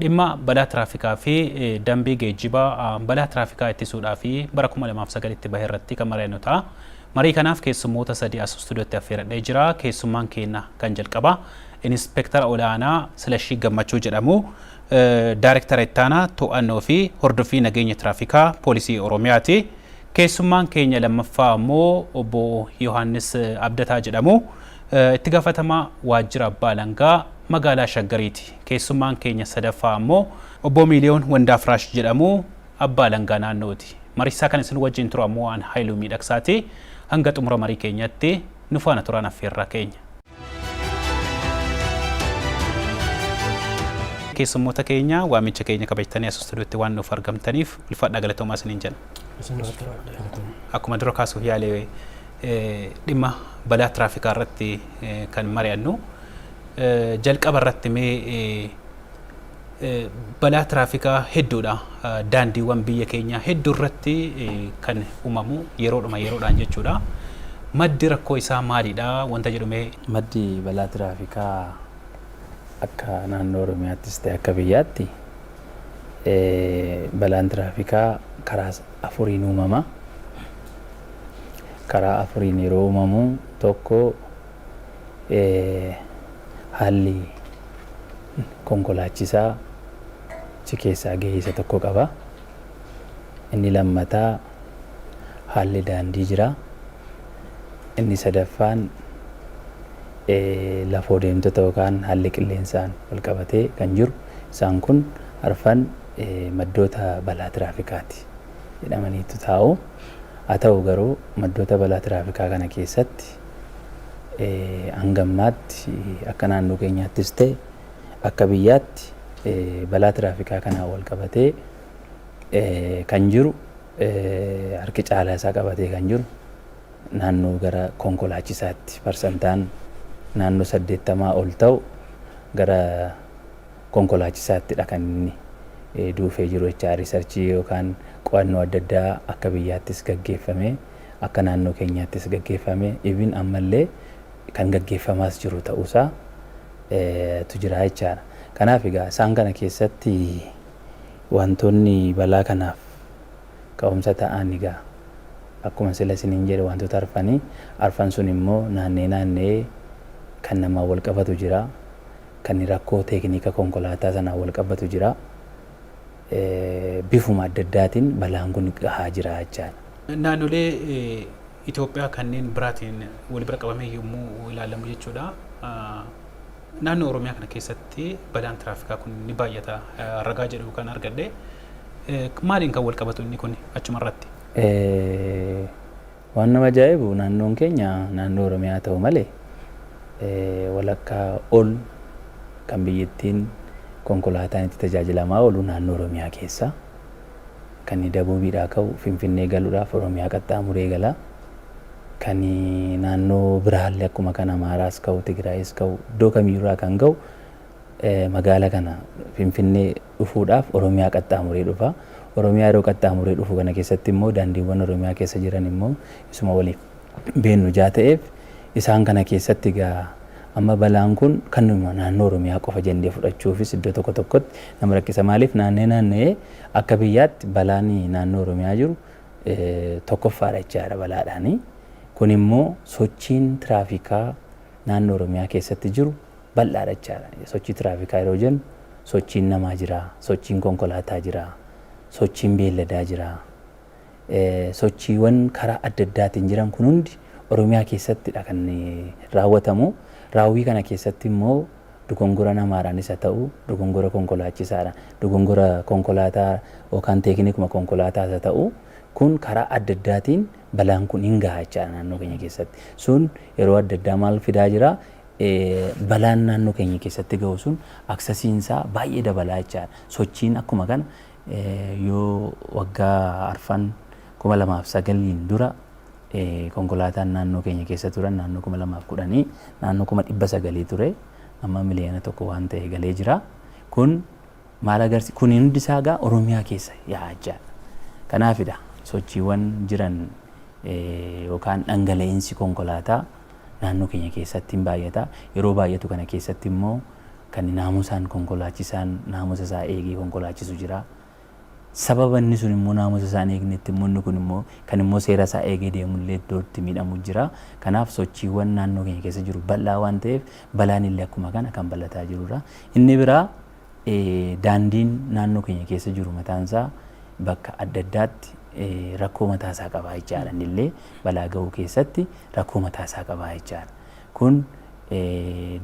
Dhimma balaa tiraafikaa fi dambii geejjiba balaa tiraafikaa ittisuudhaaf bara 2009tti bahe irratti kan mari'annu ta'a. Marii kanaaf keessummoota sadii as istuudiyootti affeeradhee jira. Keessummaan keenya kan jalqabaa Inispeektara Olaanaa Silashii Gammachuu jedhamu. Daarektara Ittaanaa To'annoo fi Hordoffii Nageenya Tiraafikaa Poolisii Oromiyaati. Keessummaan keenya lammaffaa ammoo obbo Yohaannis Abdataa jedhamu. Itti gaafatamaa Waajjira Abbaa Alangaa magaalaa Shaggariiti. Keessummaan keenya sadaffaa ammoo Obboo Miiliyoon Wandaafraash jedhamu, Abbaa Alangaa Naannooti. Mariisaa kan isin wajjin turu ammoo an Hayiluu Miidhaksaati. Hanga xumura marii keenyatti nu faana turaan affeerraa keenya. Keessummoota keenya waamicha keenya kabajtanii as istuudiyootti waan nuuf argamtaniif ulfaadhaa galatoomaa isiniin jenna. Akkuma dura kaasuuf yaale dhimma balaa tiraafikaa irratti kan mari'annu Jalqaba irratti mee balaa tiraafikaa hedduudha daandiiwwan biyya keenyaa hedduu irratti kan uumamu yeroodhuma yeroodhaan jechuudha. Maddi rakkoo isaa maalidha wanta jedhu mee? Maddi balaa tiraafikaa akka naannoo Oromiyaattis ta'e akka biyyaatti balaan tiraafikaa karaa afuriin uumama. Karaa afuriin yeroo uumamu tokko haalli konkolaachisaa achi keessaa gahee isa tokko qaba. Inni lammataa haalli daandii jira. Inni sadaffaan lafoo deemtota yookaan haalli qilleensaan wal qabatee kan jiru isaan kun arfan maddoota balaa tiraafikaati jedhamaniitu taa'u. Haa ta'u garuu maddoota balaa tiraafikaa kana keessatti hanga ammaatti akka naannoo keenyaattis ta'e akka biyyaatti balaa tiraafikaa kanaan wal qabatee kan jiru harki caalaa isaa qabatee kan jiru naannoo gara konkolaachisaatti parsantaan naannoo saddeettamaa ol ta'u gara konkolaachisaattidha kan inni duufee jiru jechaa riisarchii yookaan qo'annoo adda addaa akka biyyaattis gaggeeffamee akka naannoo keenyaattis gaggeeffame even ammallee kan gaggeeffamaas jiru ta'uusaa tu jira jechaadha. Kanaaf egaa isaan kana keessatti wantoonni balaa kanaaf ka'umsa ta'an egaa akkuma sila isiniin jedhe wantoota arfani. Arfan sun immoo naanna'ee naanna'ee kan namaan wal qabatu jira. Kan rakkoo teekniika konkolaataa sanaan wal qabatu jira. bifuma adda addaatiin balaan kun gahaa jira jechaadha. Naannolee Itoophiyaa kanneen biraatiin wal bira qabamee yommuu ilaalamu jechuudha naannoo Oromiyaa kana keessatti balaan tiraafikaa kun ni baay'ata ragaa jedhu kan argadhe maaliin kan wal qabatu inni kun achumarratti? Waan nama ajaa'ibu naannoon keenya naannoo Oromiyaa ta'u malee walakkaa ol kan biyyittiin konkolaataan itti tajaajilamaa oolu naannoo Oromiyaa keessa. Kan Dabuubiidhaa ka'u Finfinnee galuudhaaf Oromiyaa qaxxaamuree gala. Kan naannoo biraallee akkuma kan Amaaraas ka'u Tigraayis ka'u iddoo kamiyyuurraa kan ga'u magaala kana, Finfinnee, dhufuudhaaf Oromiyaa qaxxaamuree dhufa. Oromiyaa yeroo qaxxaamuree dhufu kana keessatti immoo daandiiwwan Oromiyaa keessa jiran immoo isuma waliif beennu jaa ta'eef isaan kana keessatti egaa amma balaan kun kanuma naannoo Oromiyaa qofa jennee fudhachuufis iddoo tokko tokkotti nama rakkisa. Maaliif naanna'ee naanna'ee akka biyyaatti balaan naannoo Oromiyaa jiru tokkoffaadha jechaa jira balaadhaani. Kun immoo sochiin tiraafikaa naannoo Oromiyaa keessatti jiru bal'aadha jechaadha. Sochii tiraafikaa yeroo jennu sochiin namaa jira, sochiin konkolaataa jira, sochiin beelladaa jira. Sochiiwwan karaa adda addaatiin jiran kun hundi Oromiyaa keessattidha kan raawwatamu. Raawwii kana keessatti immoo dogongora namaadhaanis haa ta'u, dogongora konkolaachisaadhaan, dogongora konkolaataa yookaan teeknikuma konkolaataas haa ta'u, kun karaa adda addaatiin balaan kun hin gaha jechaadha naannoo keenya keessatti. Sun yeroo adda addaa maal fidaa jira? balaan naannoo keenya keessatti gahu sun aksasiin isaa baay'ee dabalaa jechaadha. Sochiin akkuma kana yoo waggaa arfan 2009n dura konkolaataan naannoo keenya keessa turan naannoo 2010 naannoo 900 ture amma miliyoona tokko waan ta'e galee jira. Kun maal agarsiisa? Kun hundi isaa egaa Oromiyaa keessa yaa'aa jechaadha. Kanaafidha sochiiwwan jiran yookaan dhangala'insi konkolaataa naannoo keenya keessatti hin baay'ata. Yeroo baay'atu kana keessatti immoo kan naamusaan konkolaachisaan naamusa isaa eegee konkolaachisu jira. Sababa inni sun immoo naamusa isaa hin eegnetti immoo inni kun immoo kan immoo seera isaa eegee deemu illee iddoo itti miidhamu jira. Kanaaf sochiiwwan naannoo keenya keessa jiru bal'aa waan ta'eef balaan illee akkuma kana kan bal'ataa jirudha. Inni biraa Daandiin naannoo keenya keessa jiru mataan isaa bakka adda addaatti rakkoo mataa isaa qaba jechaadha. Inni illee balaa ga'uu keessatti rakkoo mataa isaa qaba jechaadha. Kun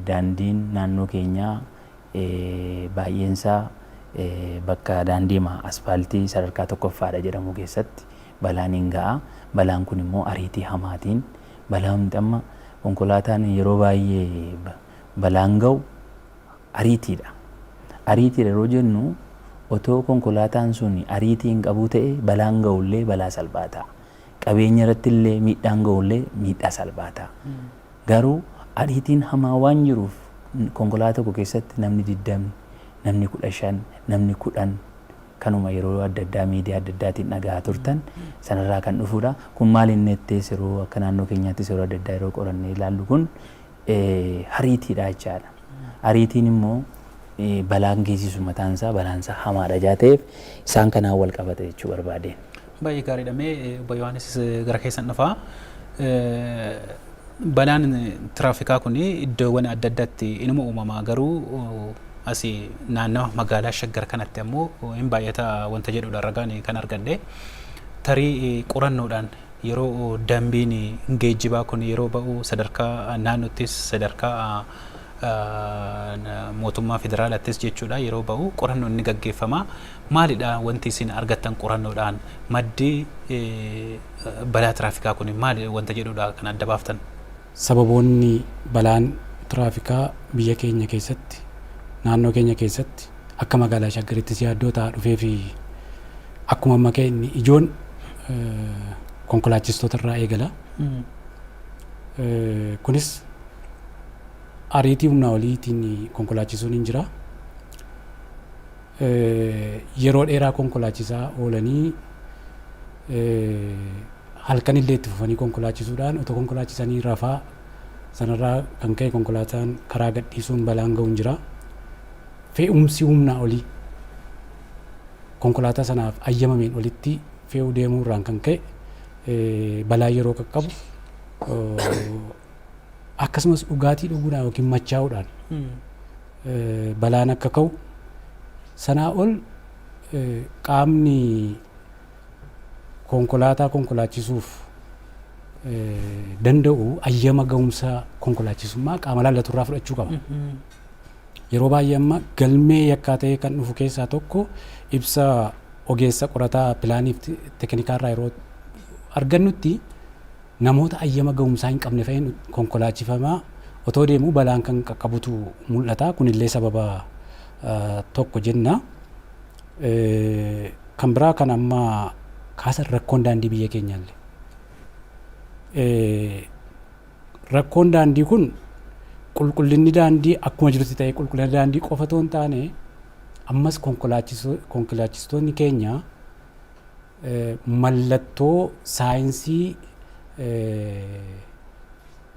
daandiin naannoo keenyaa baay'een isaa bakka daandiima aspaaltii sadarkaa tokkoffaadha jedhamu keessatti balaan hin ga'a. Balaan kun immoo ariitii hamaatiin balaa wanti amma konkolaataan yeroo baay'ee balaan ga'u Ariitiidha. Ariitiidha yeroo jennu otoo konkolaataan sun ariitii hin qabuu ta'e balaan ga'u illee balaa salphaa ta'a. Qabeenya irratti illee miidhaan ga'u illee miidhaa salphaa ta'a. Garuu ariitiin hamaa waan jiruuf konkolaataa tokko keessatti namni 20, namni 15, namni 10 kanuma yeroo adda addaa miidiyaa adda addaatiin dhaga'aa turtan sanarraa kan dhufuudha. Kun maal inni jettee yeroo akka naannoo keenyaattis yeroo adda addaa yeroo qorannee ilaallu kun hariitiidha jechaadha. Ariitiin immoo balaan geessisu mataan isaa balaan isaa hamaadha jaa ta'eef isaan kanaan wal qabata jechuu barbaadeen. Baay'ee gaariidha mee obbo Yohaannis gara keessan dhufaa. Balaan tiraafikaa kun iddoowwan adda addaatti inuma uumama garuu asi naannawa magaalaa shaggar kanatti ammoo hin baay'ata wanta jedhudha ragaan kan argadhe tarii qorannoodhaan Yeroo dambiin geejjibaa kun yeroo ba'u sadarkaa naannottis sadarkaa mootummaa federaalattis jechuudha yeroo ba'u qorannoon ni gaggeeffama. Maalidha wanti isin argattan qorannoodhaan maddi balaa tiraafikaa kun maali wanta jedhudha kan adda baaftan? Sababoonni balaan tiraafikaa biyya keenya keessatti, naannoo keenya keessatti, akka magaalaa Shaggarittis yaaddoo ta'aa dhufee fi akkuma amma ka'e inni ijoon konkolaachistoota irraa eegala. Kunis ariitii humnaa oliitiin konkolaachisuun hin jira. Yeroo dheeraa konkolaachisaa oolanii Halkanillee itti fufanii konkolaachisuudhaan otoo konkolaachisanii rafaa sanarraa kan ka'e konkolaataan karaa gadhiisuun balaan ga'uun jira. Fe'umsi humnaa olii konkolaataa sanaaf ayyamameen olitti fe'uu deemuu irraan kan ka'e balaa yeroo qaqqabu akkasumas dhugaatii dhuguudhaan yookiin machaa'uudhaan balaan akka ka'u sanaa ol qaamni konkolaataa konkolaachisuuf danda'u ayyama ga'umsa konkolaachisummaa qaama laallatu irraa fudhachuu qaba. Yeroo baay'ee amma galmee yakkaa ta'ee kan dhufu keessaa tokko ibsa ogeessa qorataa pilaaniif teekinikaa irraa yeroo argannutti namoota ayyama ga'umsaa hin qabne fa'iin konkolaachifamaa otoo deemuu balaan kan qaqqabutu mul'ata. Kunillee sababa tokko jenna. Kan biraa kan amma kaasan rakkoon daandii biyya keenyaalle. Rakkoon daandii kun qulqullinni daandii akkuma jirutti ta'ee qulqullina daandii qofa otoo hin taane ammas konkolaachistoonni keenya mallattoo saayinsii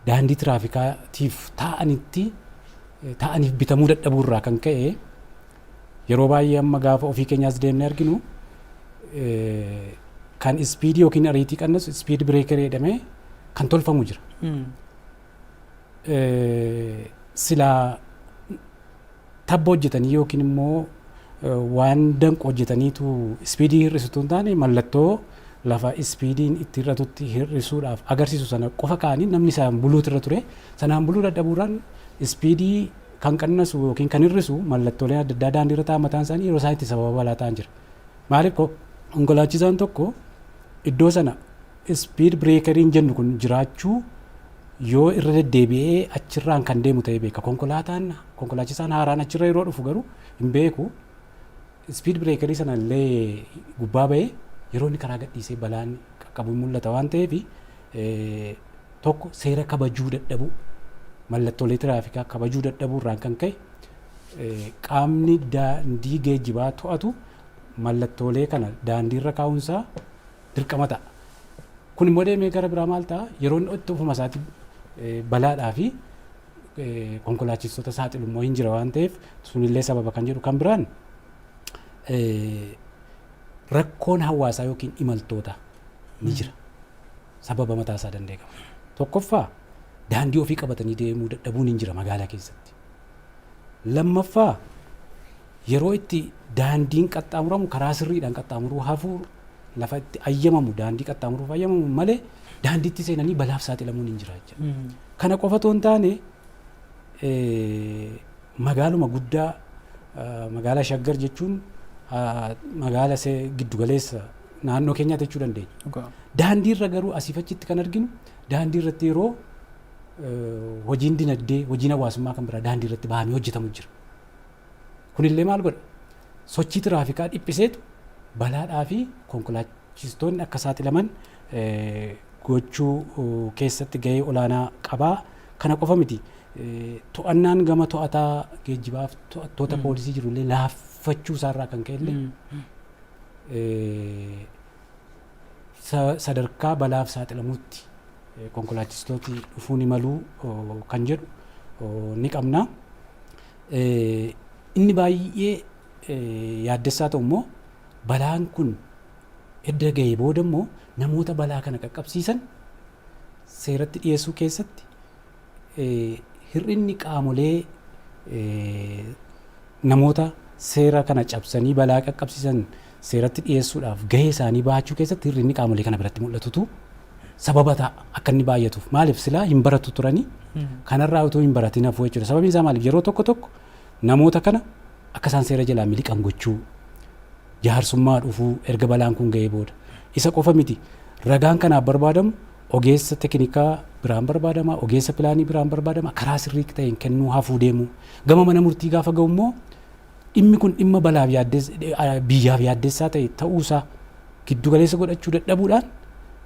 daandii tiraafikaatiif taa'anitti taa'aniif bitamuu dadhabuu irraa kan ka'e Yeroo baay'ee amma gaafa ofii keenya as deemnee arginu kan ispiidii yookiin ariitii qannesu ispiid bireekerii jedhamee kan tolfamu jira. Silaa tabba hojjetanii yookiin immoo waan danqu hojjetaniitu ispiidii hir'isutu hin taane mallattoo lafa ispiidiin itti hir'atutti hir'isuudhaaf agarsiisu sana qofa kaanii namni isaan buluutu irra ture sanaan buluu dadhabuudhaan ispiidii kan qannasu ykn kan hir'isu mallattooleen adda addaa daandii irra taa'an mataan isaanii yeroo isaan itti sababa balaa ta'an jira. Maaliif konkolaachisaan tokko iddoo sana speed breakeriin jennu kun jiraachuu yoo irra deddeebi'ee achirraan kan deemu ta'ee beeka. Konkolaataan konkolaachisaan haaraan achirra yeroo dhufu garuu hin beeku. Speed breakerii sana illee gubbaa ba'ee yeroo inni karaa gadhiisee balaan qaqqabu mul'ata waan ta'eef 1, Seera kabajuu dadhabuu, Mallattoolee tiraafikaa kabajuu dadhabuu irraan kan ka'e qaamni daandii geejjibaa to'atu mallattoolee kana daandii irra kaa'uun isaa dirqama ta'a. Kun immoo deemee gara biraa maal ta'a? Yeroo inni itti ofuma isaatti balaadhaa fi konkolaachistoota saaxilu immoo hin jira waan ta'eef sunillee sababa kan jedhu kan biraan rakkoon hawaasaa yookiin imaltoota ni jira. sababa mataa isaa danda'e qaba. Tokkoffaa daandii ofii qabatanii deemuu dadhabuun hin jira magaalaa keessatti. Lammaffaa yeroo itti daandiin qaxxaamuramu karaa sirriidhaan qaxxaamuruu hafuu lafa itti ayyamamu daandii qaxxaamuruuf ayyamamu malee daandiitti seenanii balaaf saaxilamuun hin jira jechuudha. Kana qofa otoo hin taane magaaluma guddaa magaalaa Shaggar jechuun magaala giddugaleessa naannoo keenyaati jechuu dandeenya. Dhugaa. Daandiirra garuu asiif achitti kan arginu daandiirratti yeroo eh, hojiin dinagdee, hojiin hawaasummaa kan biraa daandiirratti bahanii hojjetamu jira. Kunillee maal godha? Sochii tiraafikaa dhiphiseetu balaadhaa fi konkolaachistoonni akka saaxilaman eh, gochuu oh, keessatti gahee olaanaa qabaa. Kana qofa miti. Eh, To'annaan gama to'ataa geejjibaaf to'attoota poolisii jirullee laaffachuu isaarraa kan ka'e illee sadarkaa balaaf saaxilamuutti konkolaachistooti dhufuu ni maluu kan jedhu ni qabna. Inni baay'ee yaaddessaa ta'u immoo balaan kun edda ga'ee booda immoo namoota balaa kana qaqqabsiisan seeratti dhiyeessuu keessatti Hir'inni qaamolee namoota seera kana cabsanii balaa qaqqabsiisan seeratti dhiyeessuudhaaf gahee isaanii bahachuu keessatti hir'inni qaamolee kana biratti mul'atutu sababa ta'a akka inni baay'atuuf. Maaliif silaa hin baratu turanii kanarraa utuu hin baratin hafuu jechuudha. Sababiin isaa maaliif yeroo tokko tokko namoota kana akka isaan seera jalaa miliqan gochuu jaarsummaa dhufuu erga balaan kun ga'ee booda. Isa qofa miti ragaan kanaaf barbaadamu Ogeessa tekinikaa biraan barbaadama, ogeessa pilaanii biraan barbaadama, karaa sirrii ta'een kennuu hafuu deemuu. Gama mana murtii gaafa ga'u immoo dhimmi kun dhimma balaaf yaaddes- eh, biyyaaf yaaddessaa ta'e ta'uusaa giddu galeessa godhachuu dadhabuudhaan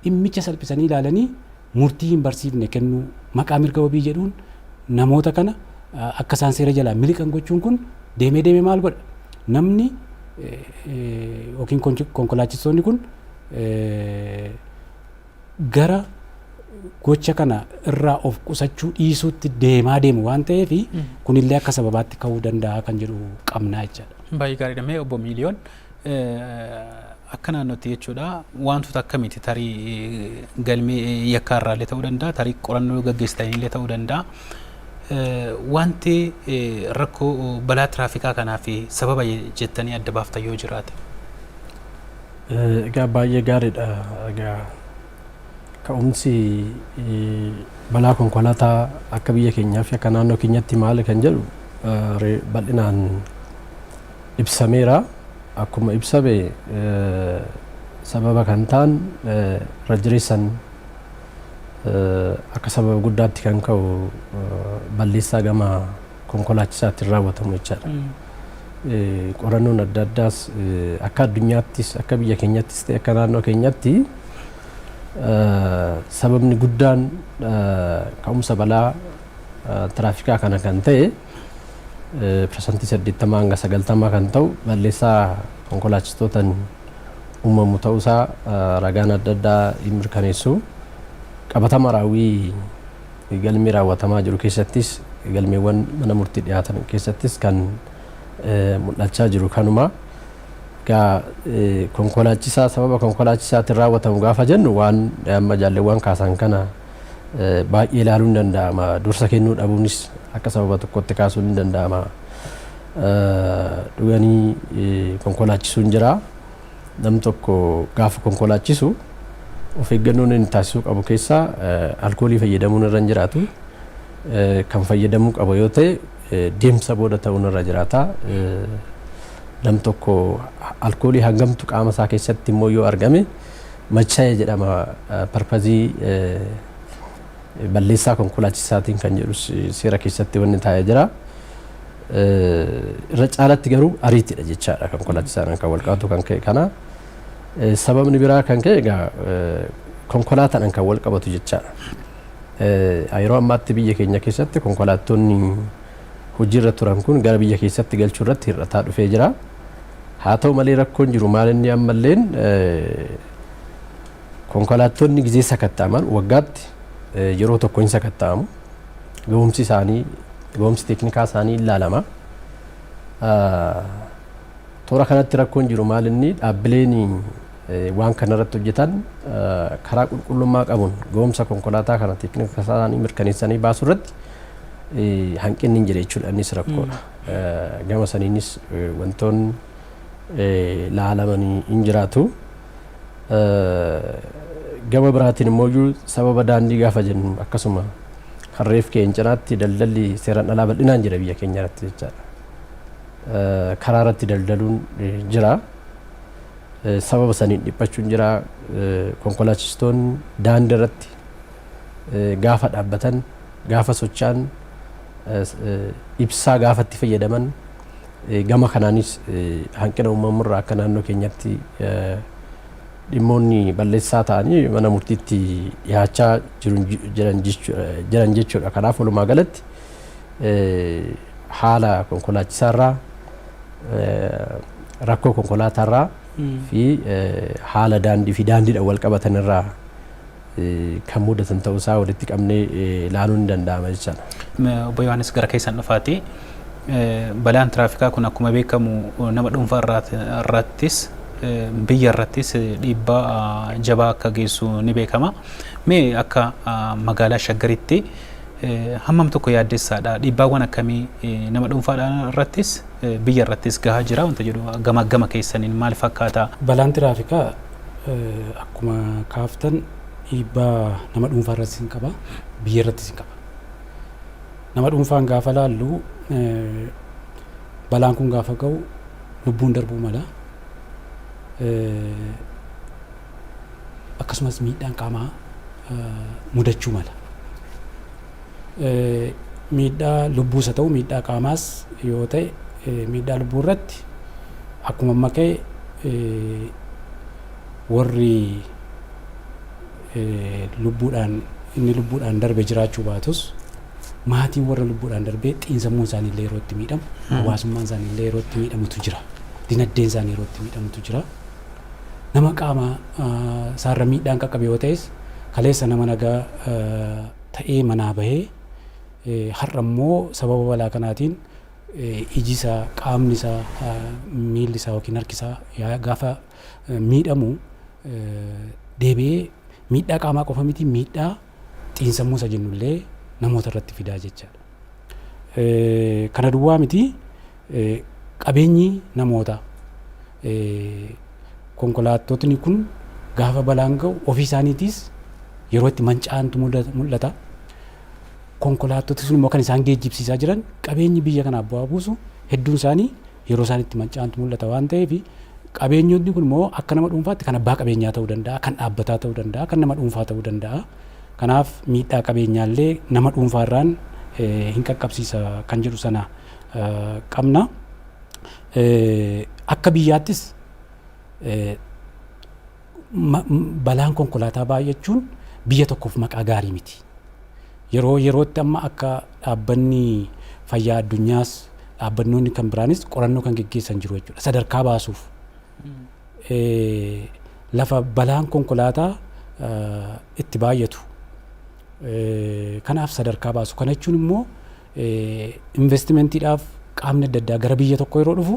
dhimmicha salphisanii ilaalanii murtii hin barsiifne kennuu maqaa mirga wabii jedhuun namoota kana eh, akka isaan seera jalaa miliqan gochuun kun deemee deemee maal godha? Namni eh, eh, yookiin konkolaachistoonni kun eh, gara gocha kana irraa of qusachuu dhiisuutti deemaa deemu waan ta'eef kunillee akka sababaatti ka'uu danda'a kan jedhu qabnaa jechaadha. Baay'ee gaariidha. Mee obbo Miiliyoon akka naannootti jechuudha wantoota akkamiiti tarii galmee yakkaa irraallee ta'uu danda'a tarii qorannoo gaggeessitaniillee ta'uu danda'a. Wanti rakkoo balaa tiraafikaa kanaaf sababa jettanii adda baaftan yoo jiraate. Egaa baay'ee gaariidha. Egaa ka'umsi balaa konkolaataa akka biyya keenyaa fi akka naannoo keenyatti maali kan jedhu bal'inaan ibsameera. Akkuma ibsame sababa kan ta'an irra jireessan akka sababa guddaatti kan ka'u balleessaa gama konkolaachisaatiin raawwatamu jechaadha. Eh, Qorannoon adda addaas eh, akka addunyaattis akka biyya keenyattis ta'e akka naannoo keenyatti eh, sababni guddaan eh, ka'umsa balaa eh, tiraafikaa kana kan ta'e eh, parsantii 80 hanga 90 kan ta'u balleessaa konkolaachistootaan uumamu ta'uusaa eh, ragaan adda addaa hin mirkaneessu qabatama raawwii Galmee raawwatamaa jiru keessattis galmeewwan mana murtii dhiyaatan keessattis kan mul'achaa jiru kanuma. Egaa konkolaachisaa sababa konkolaachisaatiin raawwatamu gaafa jennu waan amma jaalleewwan kaasan kana baay'ee ilaaluun ni danda'ama. Dursa kennuu dhabuunis akka sababa tokkotti kaasuun ni danda'ama. Dhuganii konkolaachisuun jira. Namni tokko gaafa konkolaachisu of eeggannoon inni taasisuu qabu keessaa alkoolii fayyadamuun irra hin jiraatu. Kan fayyadamuu qaba yoo ta'e deemsa booda ta'uun irra jiraata. Namni tokko alkoolii hangamtu qaama isaa keessatti immoo yoo argame machaa'e jedhama parpazii balleessaa konkolaachisaatiin kan jedhus seera keessatti wanni taa'ee jira. irra caalatti garuu ariitiidha jechaadha kan konkolaachisaadhaan kan wal qabatu kan ka'e kana. Sababni biraa kan ka'e egaa konkolaataadhaan kan wal qabatu jechaadha. Yeroo ammaatti biyya keenya keessatti konkolaattonni hojiirra turan kun gara biyya keessatti galchuu irratti hir'ataa dhufee jira. Haa ta'u malee rakkoon jiru maal inni ammalleen konkolaattonni gizee sakatta'aman waggaatti yeroo tokko hin sakatta'amu. gahumsi isaanii gahumsi teeknikaa isaanii ilaalama. Toora kanatti rakkoon jiru maal inni dhaabbileen waan kanarratti hojjetan karaa qulqullummaa qabuun gahumsa konkolaataa kana teeknika isaanii mirkaneessanii baasuu irratti hanqinni hin jira jechuudha innis rakkoodha. Gama saniinis wantoonni laalamanii hin jiraatu. Gama biraatiin immoo iyyuu sababa daandii gaafa jennu akkasuma kan reef ka'een cinaatti daldalli seeraan alaa bal'inaan jira biyya keenya irratti jechaadha. Karaa irratti daldaluun jira. Sababa saniin dhiphachuun jira. Konkolaachistoonni daandii irratti gaafa dhaabbatan gaafa socho'an ibsaa gaafa itti fayyadaman Gama kanaanis hanqina uumamu irraa akka naannoo keenyatti dhimmoonni balleessaa ta'anii mana murtiitti dhiyaachaa jiran jechuudha. Kanaaf walumaa galatti haala konkolaachisaa irraa rakkoo konkolaataa irraa fi haala daandii fi daandiidhaan wal qabatan irraa kan mudatan ta'uu isaa walitti qabnee ilaaluun ni danda'ama jechaadha. Obbo Yohaannis gara keessan dhufaati. Balaan tiraafikaa kun akkuma beekamu nama dhuunfaa irrattis biyya irrattis dhiibbaa jabaa akka geessu ni beekama. Mee akka magaalaa Shaggaritti hammam tokko yaaddessaadha. Dhiibbaawwan akkamii nama dhuunfaadhaan irrattis biyya irrattis gahaa jira wanta jedhu gama gama keessaniin maal fakkaata? Balaan tiraafikaa Akkuma kaaftan dhiibbaa nama dhuunfaa irrattis hin qaba, biyya irrattis hin qaba. Nama dhuunfaan gaafa laallu balaan kun gaafa ga'u lubbuun darbuu mala. Akkasumas miidhaan qaamaa mudachuu mala. miidhaa lubbuus haa ta'u miidhaa qaamaas yoo ta'e miidhaa lubbuu irratti akkuma amma ka'e warri lubbuudhaan inni lubbuudhaan darbe jiraachuu baatus maatiin warra lubbuudhaan darbee xiinsammuun isaanii illee yeroo itti miidhamu hawaasummaan isaanii illee yeroo itti miidhamutu jira dinagdeen isaanii yeroo itti miidhamutu jira nama qaama isaarra miidhaan qaqqabe yoo ta'es kaleessa nama nagaa ta'ee manaa bahe. Har'a immoo sababa balaa kanaatiin iji isaa, qaamni isaa, miilli isaa yookiin harki isaa gaafa miidhamu deebi'ee miidhaa qaamaa qofa miti miidhaa xiinsammuu isa jennu illee namoota irratti fidaa jechaadha. Kana duwwaa miti Qabeenyi namoota konkolaattotni kun gaafa balaan ga'u ofii isaaniitiis yeroo itti manca'antu mul'ata. Konkolaattoti sun immoo kan isaan geejjibsiisaa jiran qabeenyi biyya kanaaf bu'aa buusu hedduun isaanii yeroo isaan itti manca'antu mul'ata waan ta'eef qabeenyotni kun immoo akka nama dhuunfaatti kan abbaa qabeenyaa ta'uu danda'a, kan dhaabbataa ta'uu danda'a, kan nama dhuunfaa ta'uu danda'a. Kanaaf miidhaa qabeenyaallee nama dhuunfaarraan hin qaqqabsiisa kan jedhu sana qabna. Akka biyyaattis balaan konkolaataa baay'achuun biyya tokkoof maqaa gaarii miti. Yeroo yerootti amma akka dhaabbanni fayyaa addunyaas dhaabbannoonni kan biraanis qorannoo kan geggeessan jiru jechuudha. Sadarkaa baasuuf lafa balaan konkolaataa itti baay'atu kanaaf sadarkaa baasu. Kana jechuun immoo Investimantiidhaaf qaamni adda addaa gara biyya tokkoo yeroo dhufu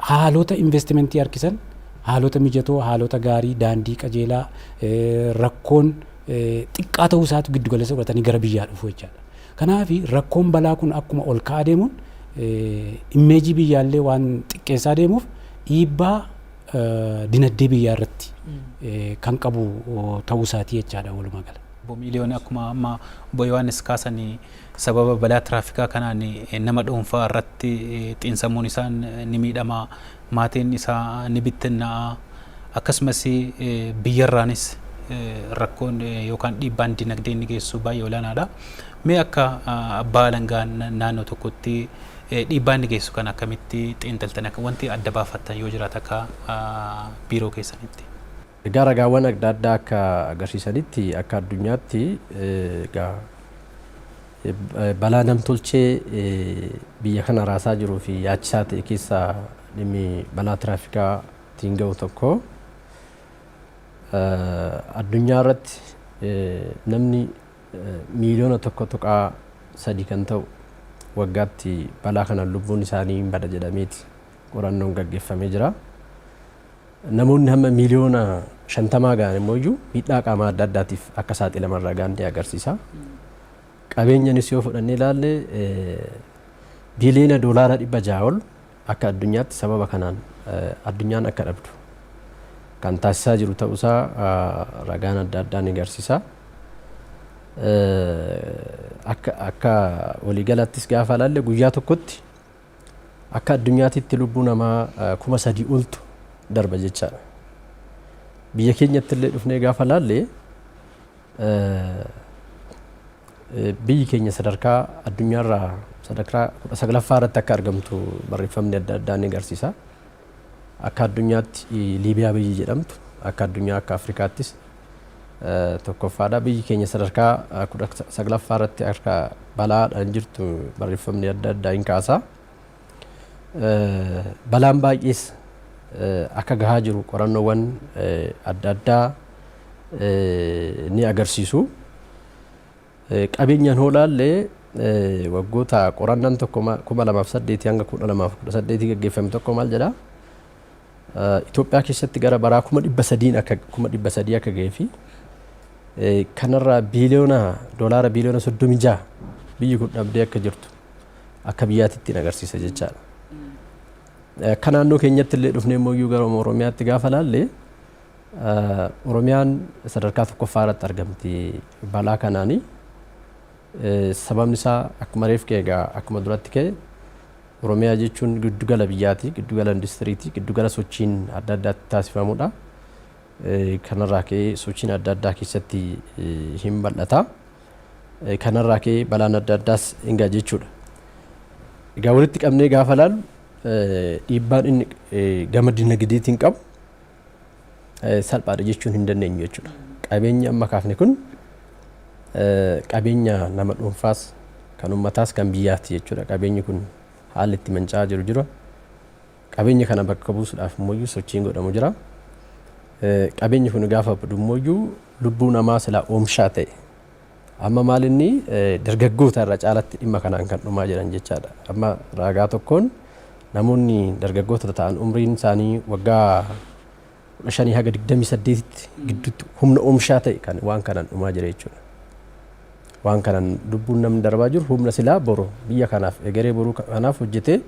haalota investimantii harkisan haalota mijatoo, haalota gaarii, daandii qajeelaa, rakkoon xiqqaa ta'uu isaatu giddu galeessa godhatanii gara biyyaa dhufu jechaadha. Kanaaf rakkoon balaa kun akkuma ol ka'aa deemuun immeejii biyyaallee waan xiqqeessaa deemuuf dhiibbaa dinagdee biyyaa irratti kan qabu ta'uu isaatii jechaadha walumaa gala. Obbo Miiliyoon, Akkuma amma Obbo Yohaannis kaasan sababa balaa tiraafikaa kanaan nama dhuunfaa irratti xiinsammuun isaan ni miidhama, maatiin isaa ni bittinnaa'a, akkasumas biyyarraanis rakkoon yookaan dhiibbaan dinagdee inni geessisu baay'ee olaanaadha. Mee akka abbaa alangaa naannoo tokkotti dhiibbaa inni geessisu kan akkamitti xiinxaltan akka wanti adda baafattan yoo jiraate akka biiroo keessanitti? Egaa ragaawwan adda addaa akka agarsiisanitti akka addunyaatti egaa balaa namtolchee biyya kana raasaa jiruu fi yaachisaa ta'e keessaa dhimmi balaa tiraafikaa ittiin ga'u tokko. Addunyaa irratti namni miiliyoona tokko tuqaa sadii kan ta'u waggaatti balaa kanaan lubbuun isaanii hin bada jedhameeti qorannoon gaggeeffamee jira. Namoonni hamma miiliyoona 50 gahan immoo miidhaa qaamaa adda addaatiif akka saaxilaman ragaan ni agarsiisa. Qabeenyanis yoo fudhannee ilaalle biiliyoona doolaara 600 ol akka addunyaatti sababa kanaan addunyaan akka dhabdu kan taasisaa jiru ta'uusaa ragaan adda addaa ni agarsiisa. Akka waliigalaattis gaafa ilaalle guyyaa tokkotti Akka addunyaatitti lubbuu namaa kuma sadii oltu darba jechaadha. Biyya keenyatti illee dhufnee gaafa laalle biyyi keenya sadarkaa addunyaarraa sadarkaa kudha saglaffaa irratti akka argamtu barreeffamni adda addaa ni agarsiisa. Akka addunyaatti Liibiyaa biyyi jedhamtu akka addunyaa akka Afrikaattis 1ffaadha. Biyyi keenya sadarkaa 19ffaa irratti akka balaadhaan jirtu barreeffamni adda addaa hin kaasa. Balaan baay'ees akka gahaa jiru qorannoowwan adda addaa ni agarsiisu. Qabeenyaan hoo ilaalle waggoota qorannaan tokko 2008 hanga 2018 gaggeeffame tokko maal jedha? Itoophiyaa keessatti gara baraa 300,000 akka 300,000 akka ga'ee fi kanarraa biiliyoona doolaara biiliyoona 36 biyyi kun dhabdee akka jirtu akka biyyaatti ittiin agarsiisa jechaadha. Akka naannoo keenyatti illee dhufnee immoo gara Oromiyaatti gaafa ilaalle Oromiyaan sadarkaa tokkoffaa irratti argamti balaa kanaani. Sababni isaa akkuma reef ka'e egaa akkuma duratti ka'e Oromiyaa jechuun giddugala biyyaati, giddugala industiriiti, giddugala sochiin adda addaa itti taasifamudha. Kanarraa ka'ee sochiin adda addaa keessatti hin bal'ata. Kanarraa ka'ee balaan adda addaas hin ga'a jechuudha. Egaa walitti qabnee gaafa ilaallu dhiibbaan inni gama dinagdeetiin qabu salphaadha jechuun hin dandeenyu jechuudha. Qabeenyi amma kaafne kun qabeenya nama dhuunfaas kan ummataas kan biyyaati jechuudha. Qabeenyi kun haalli itti manca'aa jiru jira. Qabeenya kana bakka buusuudhaaf immoo sochiin godhamu jira. Qabeenyi kun gaafa badu immoo lubbuu namaa silaa oomishaa ta'e Amma maalinni dargaggoota irra caalatti dhimma kanaan kan dhumaa jiran jechaadha. Amma raagaa tokkoon namoonni dargaggoota ta'an umriin isaanii waggaa 15 haga 28tti gidduutti humna oomshaa ta'e kan waan kanaan dhumaa jira jechuudha. Waan kanaan lubbuun namni darbaa jiru humna silaa boru biyya kanaaf egeree boruu kanaaf hojjetee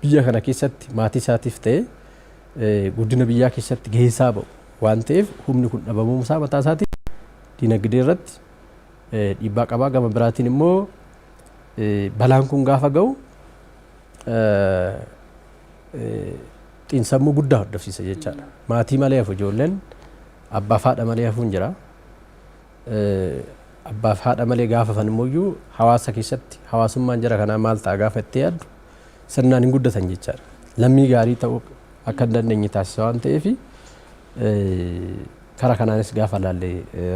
biyya kana keessatti maatii isaatiif ta'e guddina biyyaa keessatti gahee isaa ba'u waan ta'eef humni kun dhabamuu isaa mataa isaatiin dinagdee irratti dhiibbaa qaba. Gama biraatiin immoo balaan kun gaafa ga'u xiinsammuu guddaa hordofsiisa jechaadha. Maatii malee hafu ijoolleen abbaa fi haadha malee hafuun jira. Abbaa fi haadha malee gaafa hafan immoo iyyuu hawaasa keessatti hawaasummaan jara kanaa maal ta'a gaafa itti yaaddu sirnaan hin guddatan jechaadha. Lammii gaarii ta'uu akka hin dandeenye taasisa waan ta'eef Kara kanaanis gaafa ilaalle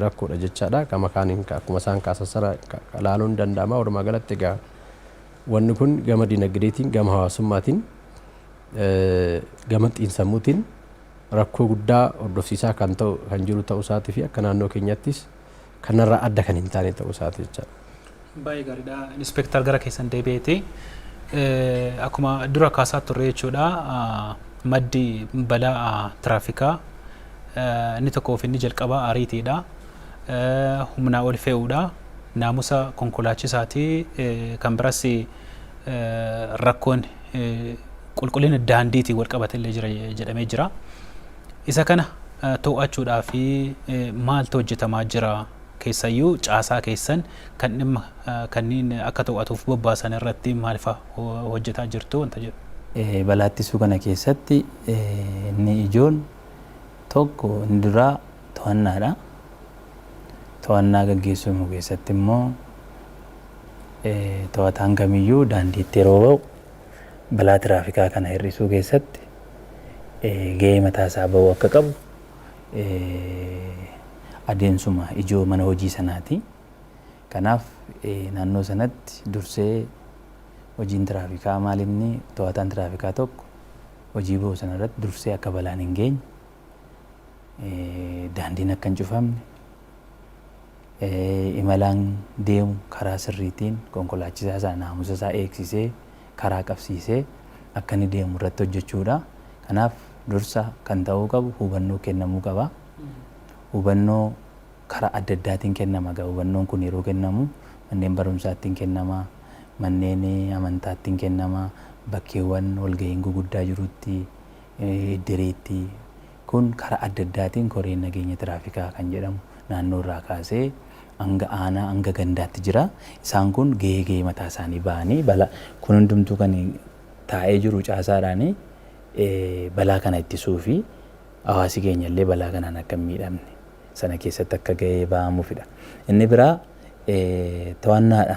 rakkoodha jechaadha. Gama kaaniin akkuma isaan kaasan sana ilaaluun ni danda'ama. Walumaa galatti egaa wanni kun gama dinagdeetiin, gama hawaasummaatiin, gama xiinsammuutiin rakkoo guddaa hordofsiisaa kan ta'u kan jiru ta'uu isaatii fi akka naannoo keenyattis kanarraa adda kan hin taane ta'uu isaati jechaadha. Baay'ee gaariidha. Inspektar gara keessan deebi'eeti. Akkuma dura kaasaa turre jechuudha maddi balaa tiraafikaa inni tokkoo fi inni jalqabaa ariitiidha. Humnaa ol fe'uudha. Naamusa konkolaachisaati. Kan biras rakkoon qulqullina daandiitiin wal qabate illee jira jedhamee jira. Isa kana too'achuudhaaf maaltu hojjetamaa jira? Keessayyuu caasaa keessan kan dhimma kanniin akka too'atuuf bobbaasan irratti maalfa hojjetaa jirtu? wanta jedhu. Balaa ittisuu kana keessatti inni ijoon tokko inni duraa to'annaadha. To'annaa gaggeessuun keessatti immoo to'ataan kamiyyuu daandiitti yeroo ba'u, balaa tiraafikaa kana hir'isuu keessatti gahee mataa isaa ba'uu akka qabu adeemsuma ijoo mana hojii sanaati. Kanaaf naannoo sanatti dursee hojiin tiraafikaa maal inni to'ataan tiraafikaa tokko hojii ba'u sana irratti dursee akka balaan hin geenye daandiin akka hin cufamne imalaan deemu karaa sirriitiin konkolaachisaa isaa naamusa isaa eegsisee karaa qabsiisee akka inni deemu irratti hojjechuu dha. Kanaaf dursa kan ta'uu qabu hubannoo kennamuu qaba. Hubannoo karaa adda addaatiin kennama egaa hubannoon kun yeroo kennamu manneen barumsaattiin kennama, manneen amantaattiin kennama, bakkeewwan walga'iin guguddaa jirutti, iddireetti, Kun karaa adda addaatiin koreen nageenya tiraafikaa kan jedhamu naannoo irraa kaasee hanga aanaa, hanga gandaatti jira. Isaan kun gahee gahee mataa isaanii bahanii balaa kun hundumtuu kan taa'ee jiru caasaadhaani. Balaa kana ittisuufi hawaasi keenya illee balaa kanaan akka hin miidhamne sana keessatti akka gahee bahamuufidha. Inni biraa to'annaadha.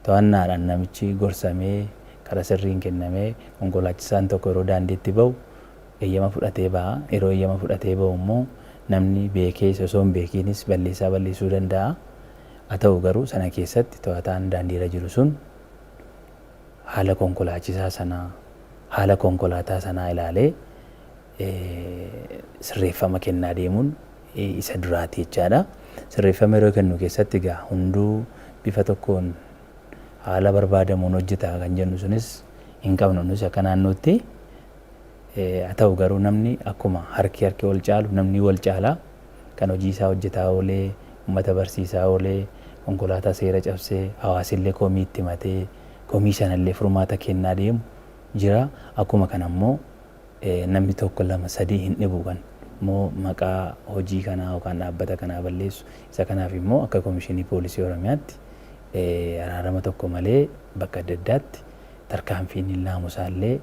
To'annaadhaan namichi gorsamee karaa sirriin kennamee konkolaachisaan tokko yeroo daandiitti bahu eeyyama fudhatee baha. Yeroo eeyyama fudhatee bahu immoo namni beekees osoo hin beekiinis balleessaa balleessuu danda'a. Haa ta'u garuu sana keessatti to'ataan daandiirra jiru sun haala konkolaachisaa sanaa, haala konkolaataa sanaa ilaalee sirreeffama kennaa deemuun isa duraati jechaadha. Sirreeffama yeroo kennu keessatti egaa hunduu bifa tokkoon haala barbaadamuun hojjeta kan jennu sunis hin qabnu. Nus akka naannootti Haa ta'u garuu namni akkuma harki harki ol caalu namni wal caala. Kan hojii isaa hojjetaa oolee, ummata barsiisaa oolee, konkolaataa seera cabsee, hawaasillee komii itti himatee, komii sanallee furmaata kennaa deemu jira. Akkuma kana immoo namni tokko lama sadii hin dhibu kan immoo maqaa hojii kanaa yookaan dhaabbata kanaa balleessu. Isa kanaaf immoo akka Komishinii Poolisii Oromiyaatti araarama tokko malee bakka adda addaatti tarkaanfiin naamusaallee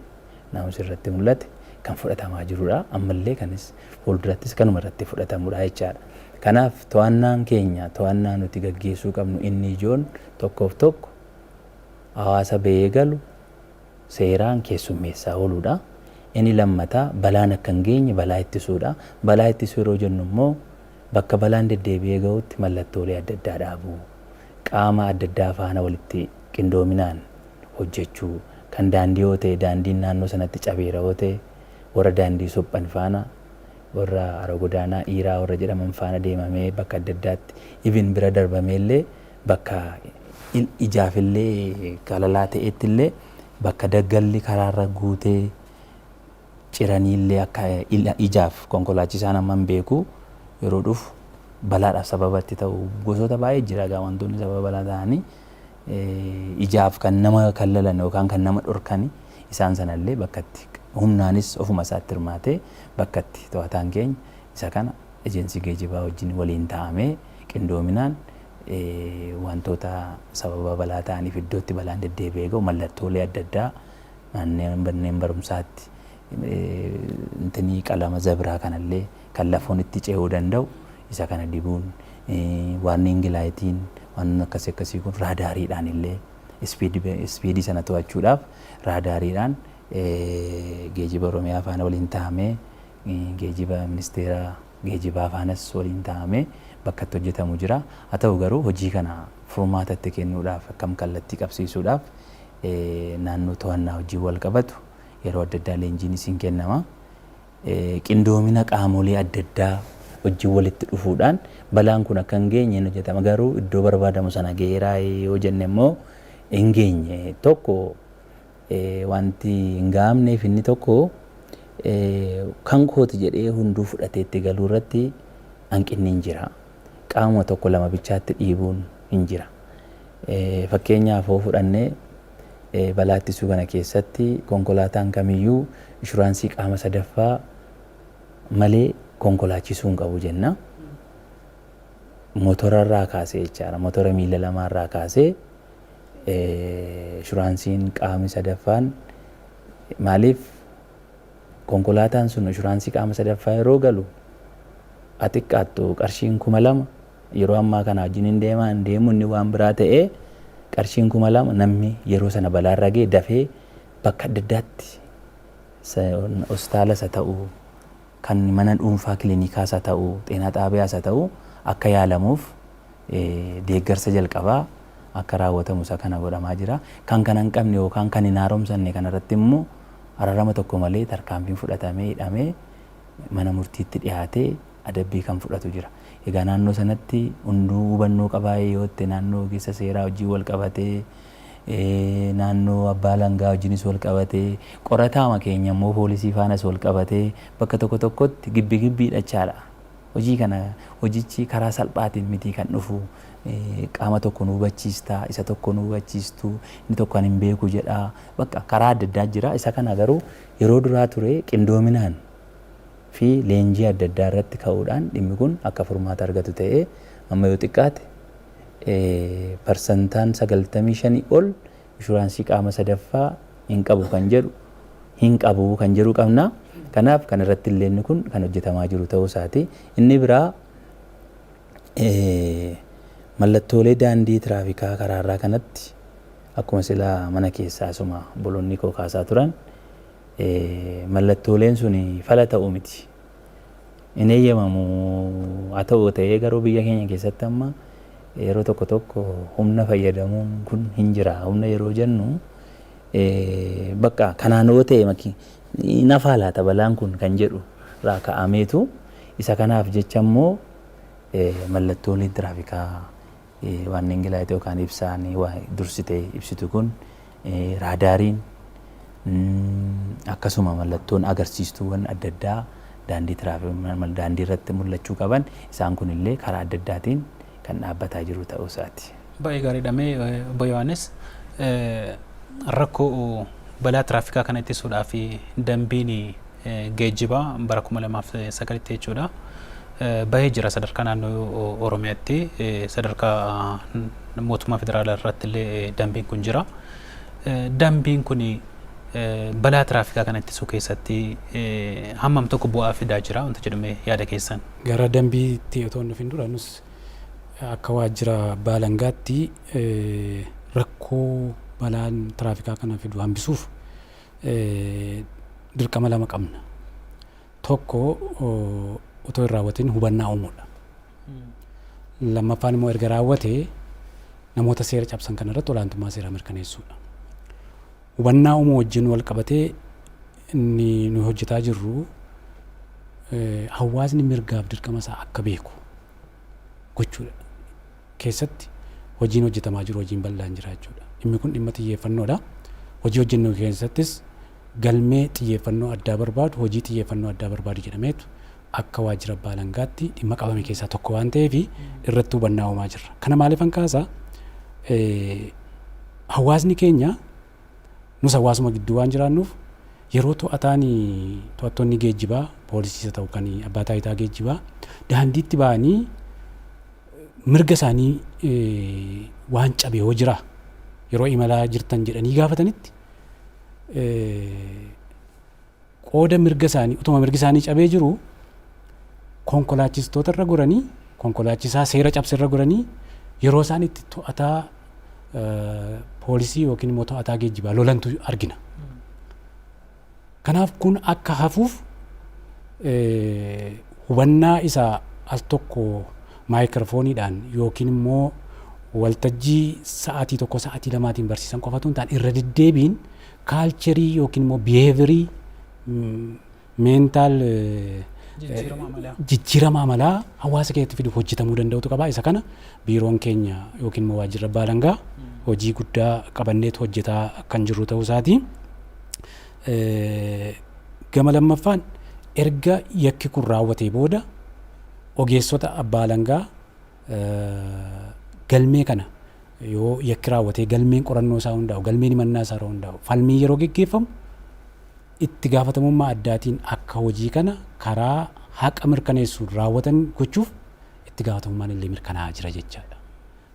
naa'umsi irratti mul'ate kan fudhatamaa jirudha. Ammallee kanis fuuldurattis kanuma irratti fudhatamudha jechaadha. Kanaaf to'annaan keenya to'annaa nuti gaggeessuu qabnu inni ijoon tokkoof tokko hawaasa ba'ee galu seeraan keessummeessaa ooluudha. Inni lammataa balaan akka hin geenye balaa ittisuudha. Balaa ittisuu yeroo jennu immoo bakka balaan deddeebi'ee ga'utti mallattoolee adda addaa dhaabuu, qaama adda addaa faana walitti qindoominaan hojjechuu, kan daandii yoo ta'e daandiin naannoo sanatti cabeera yoo ta'e warra daandii suphan faana, warra hara godaanaa Iiraa warra jedhaman faana deemamee bakka adda addaatti even bira darbamee illee bakka ijaaf illee galalaa ta'eetti illee bakka daggalli karaarra guutee, ciraniillee akka ijaaf konkolaachisaan amma hin beeku yeroo dhufu balaadhaaf sababa itti ta'u gosoota baay'ee jira egaa wantoonni sababa balaa ta'anii ijaaf kan nama kallalan yookaan kan nama dhorkan isaan sanallee bakkatti humnaanis ofuma isaatti hirmaatee bakkatti to'ataan keenya isa kana ejensii geejibaa wajjin waliin ta'amee qindoominaan wantoota sababa balaa ta'aniif iddootti balaan deddeebi'ee ga'u mallattoolee adda addaa Manneen barumsaatti qalama zabiraa kanallee kan lafoon itti ce'uu danda'u isa kana dibuun warning lightiin waan akkasii akkasii kun raadaariidhaan illee ispiidii sana to'achuudhaaf raadaariidhaan geejiba Oromiyaa faana waliin tahamee geejiba ministeera geejibaa faanas waliin taa'amee bakka itti hojjetamu jira. Haa ta'u garuu hojii kana furmaata itti kennuudhaaf akkam kallattii qabsiisuudhaaf naannoo to'annaa wajjin walqabatu yeroo adda addaa leenjiinis hin kennama. Qindoomina qaamolee adda addaa wajjin walitti dhufuudhaan balaan kun akka hin geenye hin hojjetama. Garuu iddoo barbaadamu sana gaheeraa yoo jenne immoo hin geenye. Tokko Wanti hin ga'amneef inni tokko kan kooti jedhee hunduu fudhatee itti galuu irratti hanqinni hin jira. Qaamuma tokko lama bichaatti dhiibuun hin jira. Fakkeenyaaf hoo fudhanne balaa ittisuu kana keessatti konkolaataan kamiyyuu ishuraansii qaama sadaffaa malee konkolaachisuu hin qabu jenna. Motora irraa kaasee jechaadha. Motora miila lamaa irraa kaasee Inshuraansiin qaamni sadaffaan maaliif konkolaataan sun inshuraansii qaama sadaffaa yeroo galu haa xiqqaattu qarshiin kuma lama yeroo ammaa kana wajjin hin deemaa hin deemu inni waan biraa ta'ee qarshiin kuma lama namni yeroo sana balaarra ga'e dafee bakka adda addaatti hospitaalas haa ta'u kan mana dhuunfaa kilinikaas haa ta'u, xeenaa xaabiyaas haa ta'u akka yaalamuuf deeggarsa jalqabaa akka raawwatamu isa kana godhamaa jira. Kan kana hin qabne yookaan kan hin haaromsanne kana irratti immoo ararama tokko malee tarkaanfiin fudhatamee hidhamee mana murtiitti dhiyaatee adabbii kan fudhatu jira. Egaa naannoo sanatti hunduu hubannoo qabaa yoo jette naannoo ogeessa seeraa wajjin wal qabatee naannoo abbaa alangaa wajjinis wal qabatee, qorataama keenya immoo poolisii faanas wal qabatee bakka tokko tokkotti gibbi gibbi hidhachaadha. Hojii kana hojichi karaa salphaatiin mitii kan dhufu. Qaama tokko nu hubachiista, isa tokko nu hubachiistu, inni tokko ani hin beeku jedha. Bakka karaa adda addaa jira. Isa kana garuu yeroo duraa ture qindoominaan fi leenjii adda addaa irratti ka'uudhaan dhimmi kun akka furmaata argatu ta'ee amma yoo xiqqaate parsantaan 95 ol inshuraansii qaama sadaffaa hin qabu kan jedhu hin qabu kan jedhu qabna. Kanaaf kana irratti illee inni kun kan hojjetamaa jiru ta'uu isaati. Inni biraa mallattoolee daandii tiraafikaa karaarraa kanatti akkuma sila mana keessaa asuma obboloonni koo kaasaa turan mallattooleen sun fala ta'u miti. hin eeyyamamu. Haa ta'u ta'ee garuu biyya keenya keessatti amma yeroo tokko tokko humna fayyadamuun kun hin jira. Humna yeroo jennu bakka kanaan yoo ta'e maki hin hafaa laata balaan kun kan jedhu irraa ka'ameetu isa kanaaf jecha immoo mallattoolee tiraafikaa Warning light yookaan ibsaan waa dursitee ibsitu kun raadaariin akkasuma mallattoon agarsiistuuwwan adda addaa daandii tiraafikii daandii irratti mul'achuu qaban isaan kun illee karaa adda addaatiin kan dhaabbataa jiru ta'uu isaati. Baay'ee gaariidha mee obbo Yohaannis rakkoo balaa tiraafikaa kana ittisuudhaaf dambiin geejjibaa bara 2009tti jechuudha bahee jira sadarkaa naannoo Oromiyaatti sadarkaa mootummaa federaalaa irratti illee dambiin kun jira. Dambiin kun balaa tiraafikaa kana ittisuu keessatti hammam tokko bu'aa fidaa jira wanta jedhame yaada keessan. Gara dambiitti otoo hin dhufin dura nus akka waajjira baalangaatti rakkoo balaan tiraafikaa kana fidu hambisuuf dirqama lama qabna. Tokko otoo hin raawwatiin hubannaa uumuudha. Lammaffaan immoo erga raawwatee namoota seera cabsan kana irratti olaantummaa seeraa mirkaneessuudha. Hubannaa uumuu wajjin wal qabatee inni nu hojjetaa jirru hawaasni mirgaaf dirqama isaa akka beeku gochuudha. keessatti hojiin hojjetamaa jiru hojiin bal'aan jira jechuudha. Dhimmi kun dhimma xiyyeeffannoodha. Hojii hojjennu keessattis galmee xiyyeeffannoo addaa barbaadu, hojii xiyyeeffannoo addaa barbaadu jedhameetu akka waajjira abbaa alangaatti dhimma qabame keessaa tokko waan ta'eef irratti hubannaa uumaa jirra. Kana maaliifan kaasa? Hawaasni keenya nus hawaasuma gidduu waan jiraannuuf yeroo to'ataan to'attoonni geejjibaa poolisiisa ta'u kan abbaa taayitaa geejjibaa daandiitti ba'anii mirga isaanii waan cabe yoo jira yeroo imalaa jirtan jedhanii gaafatanitti qooda mirga isaanii utuma mirgi isaanii cabee jiru konkolaachistoota irra goranii konkolaachisaa seera cabse irra goranii yeroo isaan itti to'ataa poolisii yookiin immoo to'ataa geejjibaa lolantu argina. Kanaaf kun akka hafuuf hubannaa isa al tokko maayikiroofooniidhaan yookiin immoo waltajjii sa'aatii tokko sa'aatii lamaatiin barsiisan qofa tun ta'an irra deddeebiin kaalcherii yookiin immoo biheevirii meentaal jijjiirama amalaa hawaasa keessatti fiduuf hojjetamuu danda'utu qaba. Isa kana biiroon keenya yookiin immoo waajjirri abbaa alangaa hojii guddaa qabanneetu hojjetaa kan jirru ta'uu isaati. Gama lammaffaan erga yakki kun raawwatee booda ogeessota abbaa alangaa galmee kana yoo yakki raawwatee galmeen qorannoo isaa hundaa'u galmeen himannaa isaa irra hundaa'u falmii yeroo geggeeffamu itti gaafatamummaa addaatiin akka hojii kana karaa haqa mirkaneessuun raawwatan gochuuf itti gaafatamummaan illee mirkanaa'aa jira jechaadha.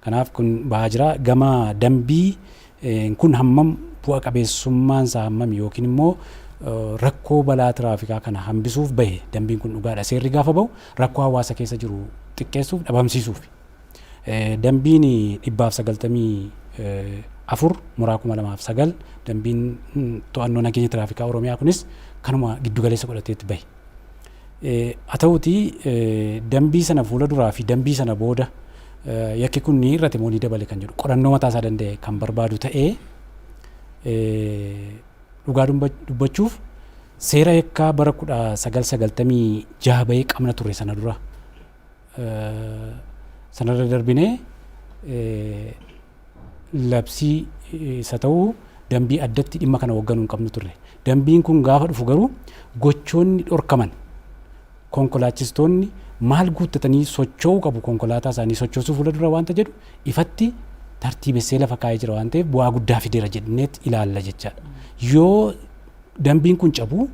Kanaaf kun bahaa jira. Gama dambii n kun hammam bu'a qabeessummaan isaa hammami yookiin immoo rakkoo balaa tiraafikaa kana hambisuuf bahe dambiin kun dhugaa dha seerri gaafa bahu rakkoo hawaasa keessa jiru xiqqeessuuf dhabamsiisuufi. Dambiin 194 muraa 2009 dambiin to'annoo nageenya tiraafikaa Oromiyaa kunis kanuma giddu galeessa godhateeti bahe. Haa ta'uutii dambii sana fuula duraa fi dambii sana booda yakki kun ni hir'ate moo ni dabale kan jedhu qorannoo mataa isaa danda'e kan barbaadu ta'ee dhugaa dubbachuuf seera yakkaa bara 1996 bahee qabna ture sana dura sanarra darbinee labsii isa ta'u dambii addatti dhimma kana hoogganuu hin qabnu turre. Dambiin kun gaafa dhufu garuu gochoonni dhorkaman konkolaachistoonni maal guuttatanii socho'uu qabu konkolaataa isaanii sochoosuu fuula dura waanta jedhu ifatti tartiibessee lafa kaa'ee jira waan ta'eef bu'aa guddaa fideera jedhneet ilaalla jechaadha. Yoo dambiin kun cabu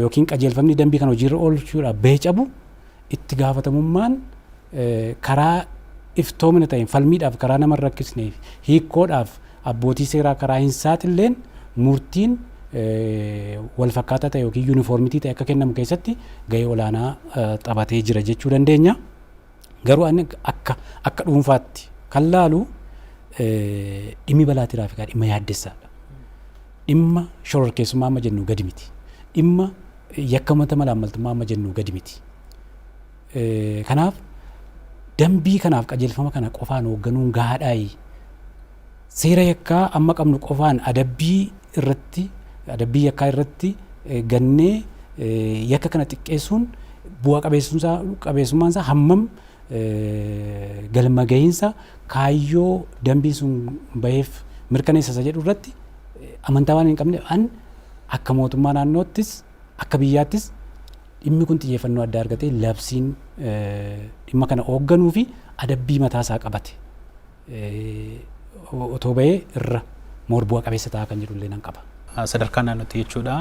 yookiin qajeelfamni dambii kana hojiirra oolchuudhaaf bahe cabu itti gaafatamummaan karaa iftoomina ta'een falmiidhaaf karaa nama hin rakkisnee fi hiikkoodhaaf abbootii seeraa karaa hin saaxilleen murtiin walfakkaataa ta'e yookiin yuunifoormitii ta'e akka kennamu keessatti gahee olaanaa taphatee jira jechuu dandeenya. Garuu ani akka akka dhuunfaatti kan laalu dhimmi balaa tiraafikaa dhimma yaaddessaadha. Dhimma shororkeessummaa amma jennu gadi miti. Dhimma Yakka mata malaammaltummaa amma jennuu gadi miti. Kanaaf dambii kanaaf qajeelfama kana qofaan hoogganuun gahaadhaayi. Seera yakkaa amma qabnu qofaan adabbii irratti adabbii yakkaa irratti gannee yakka kana xiqqeessuun bu'a qabeessummaan isaa hammam galma gahiinsa kaayyoo dambiin sun baheef mirkaneessa isa jedhu irratti amantaa waan hin qabne an Akka mootummaa naannoottis akka biyyaattis dhimmi kun xiyyeeffannoo addaa argatee labsiin dhimma kana oogganuu fi adabbii mataa isaa qabate otoo bahee irra moor bu'a qabeessa ta'a kan jedhu illee nan qaba. Sadarkaa naannootti jechuudha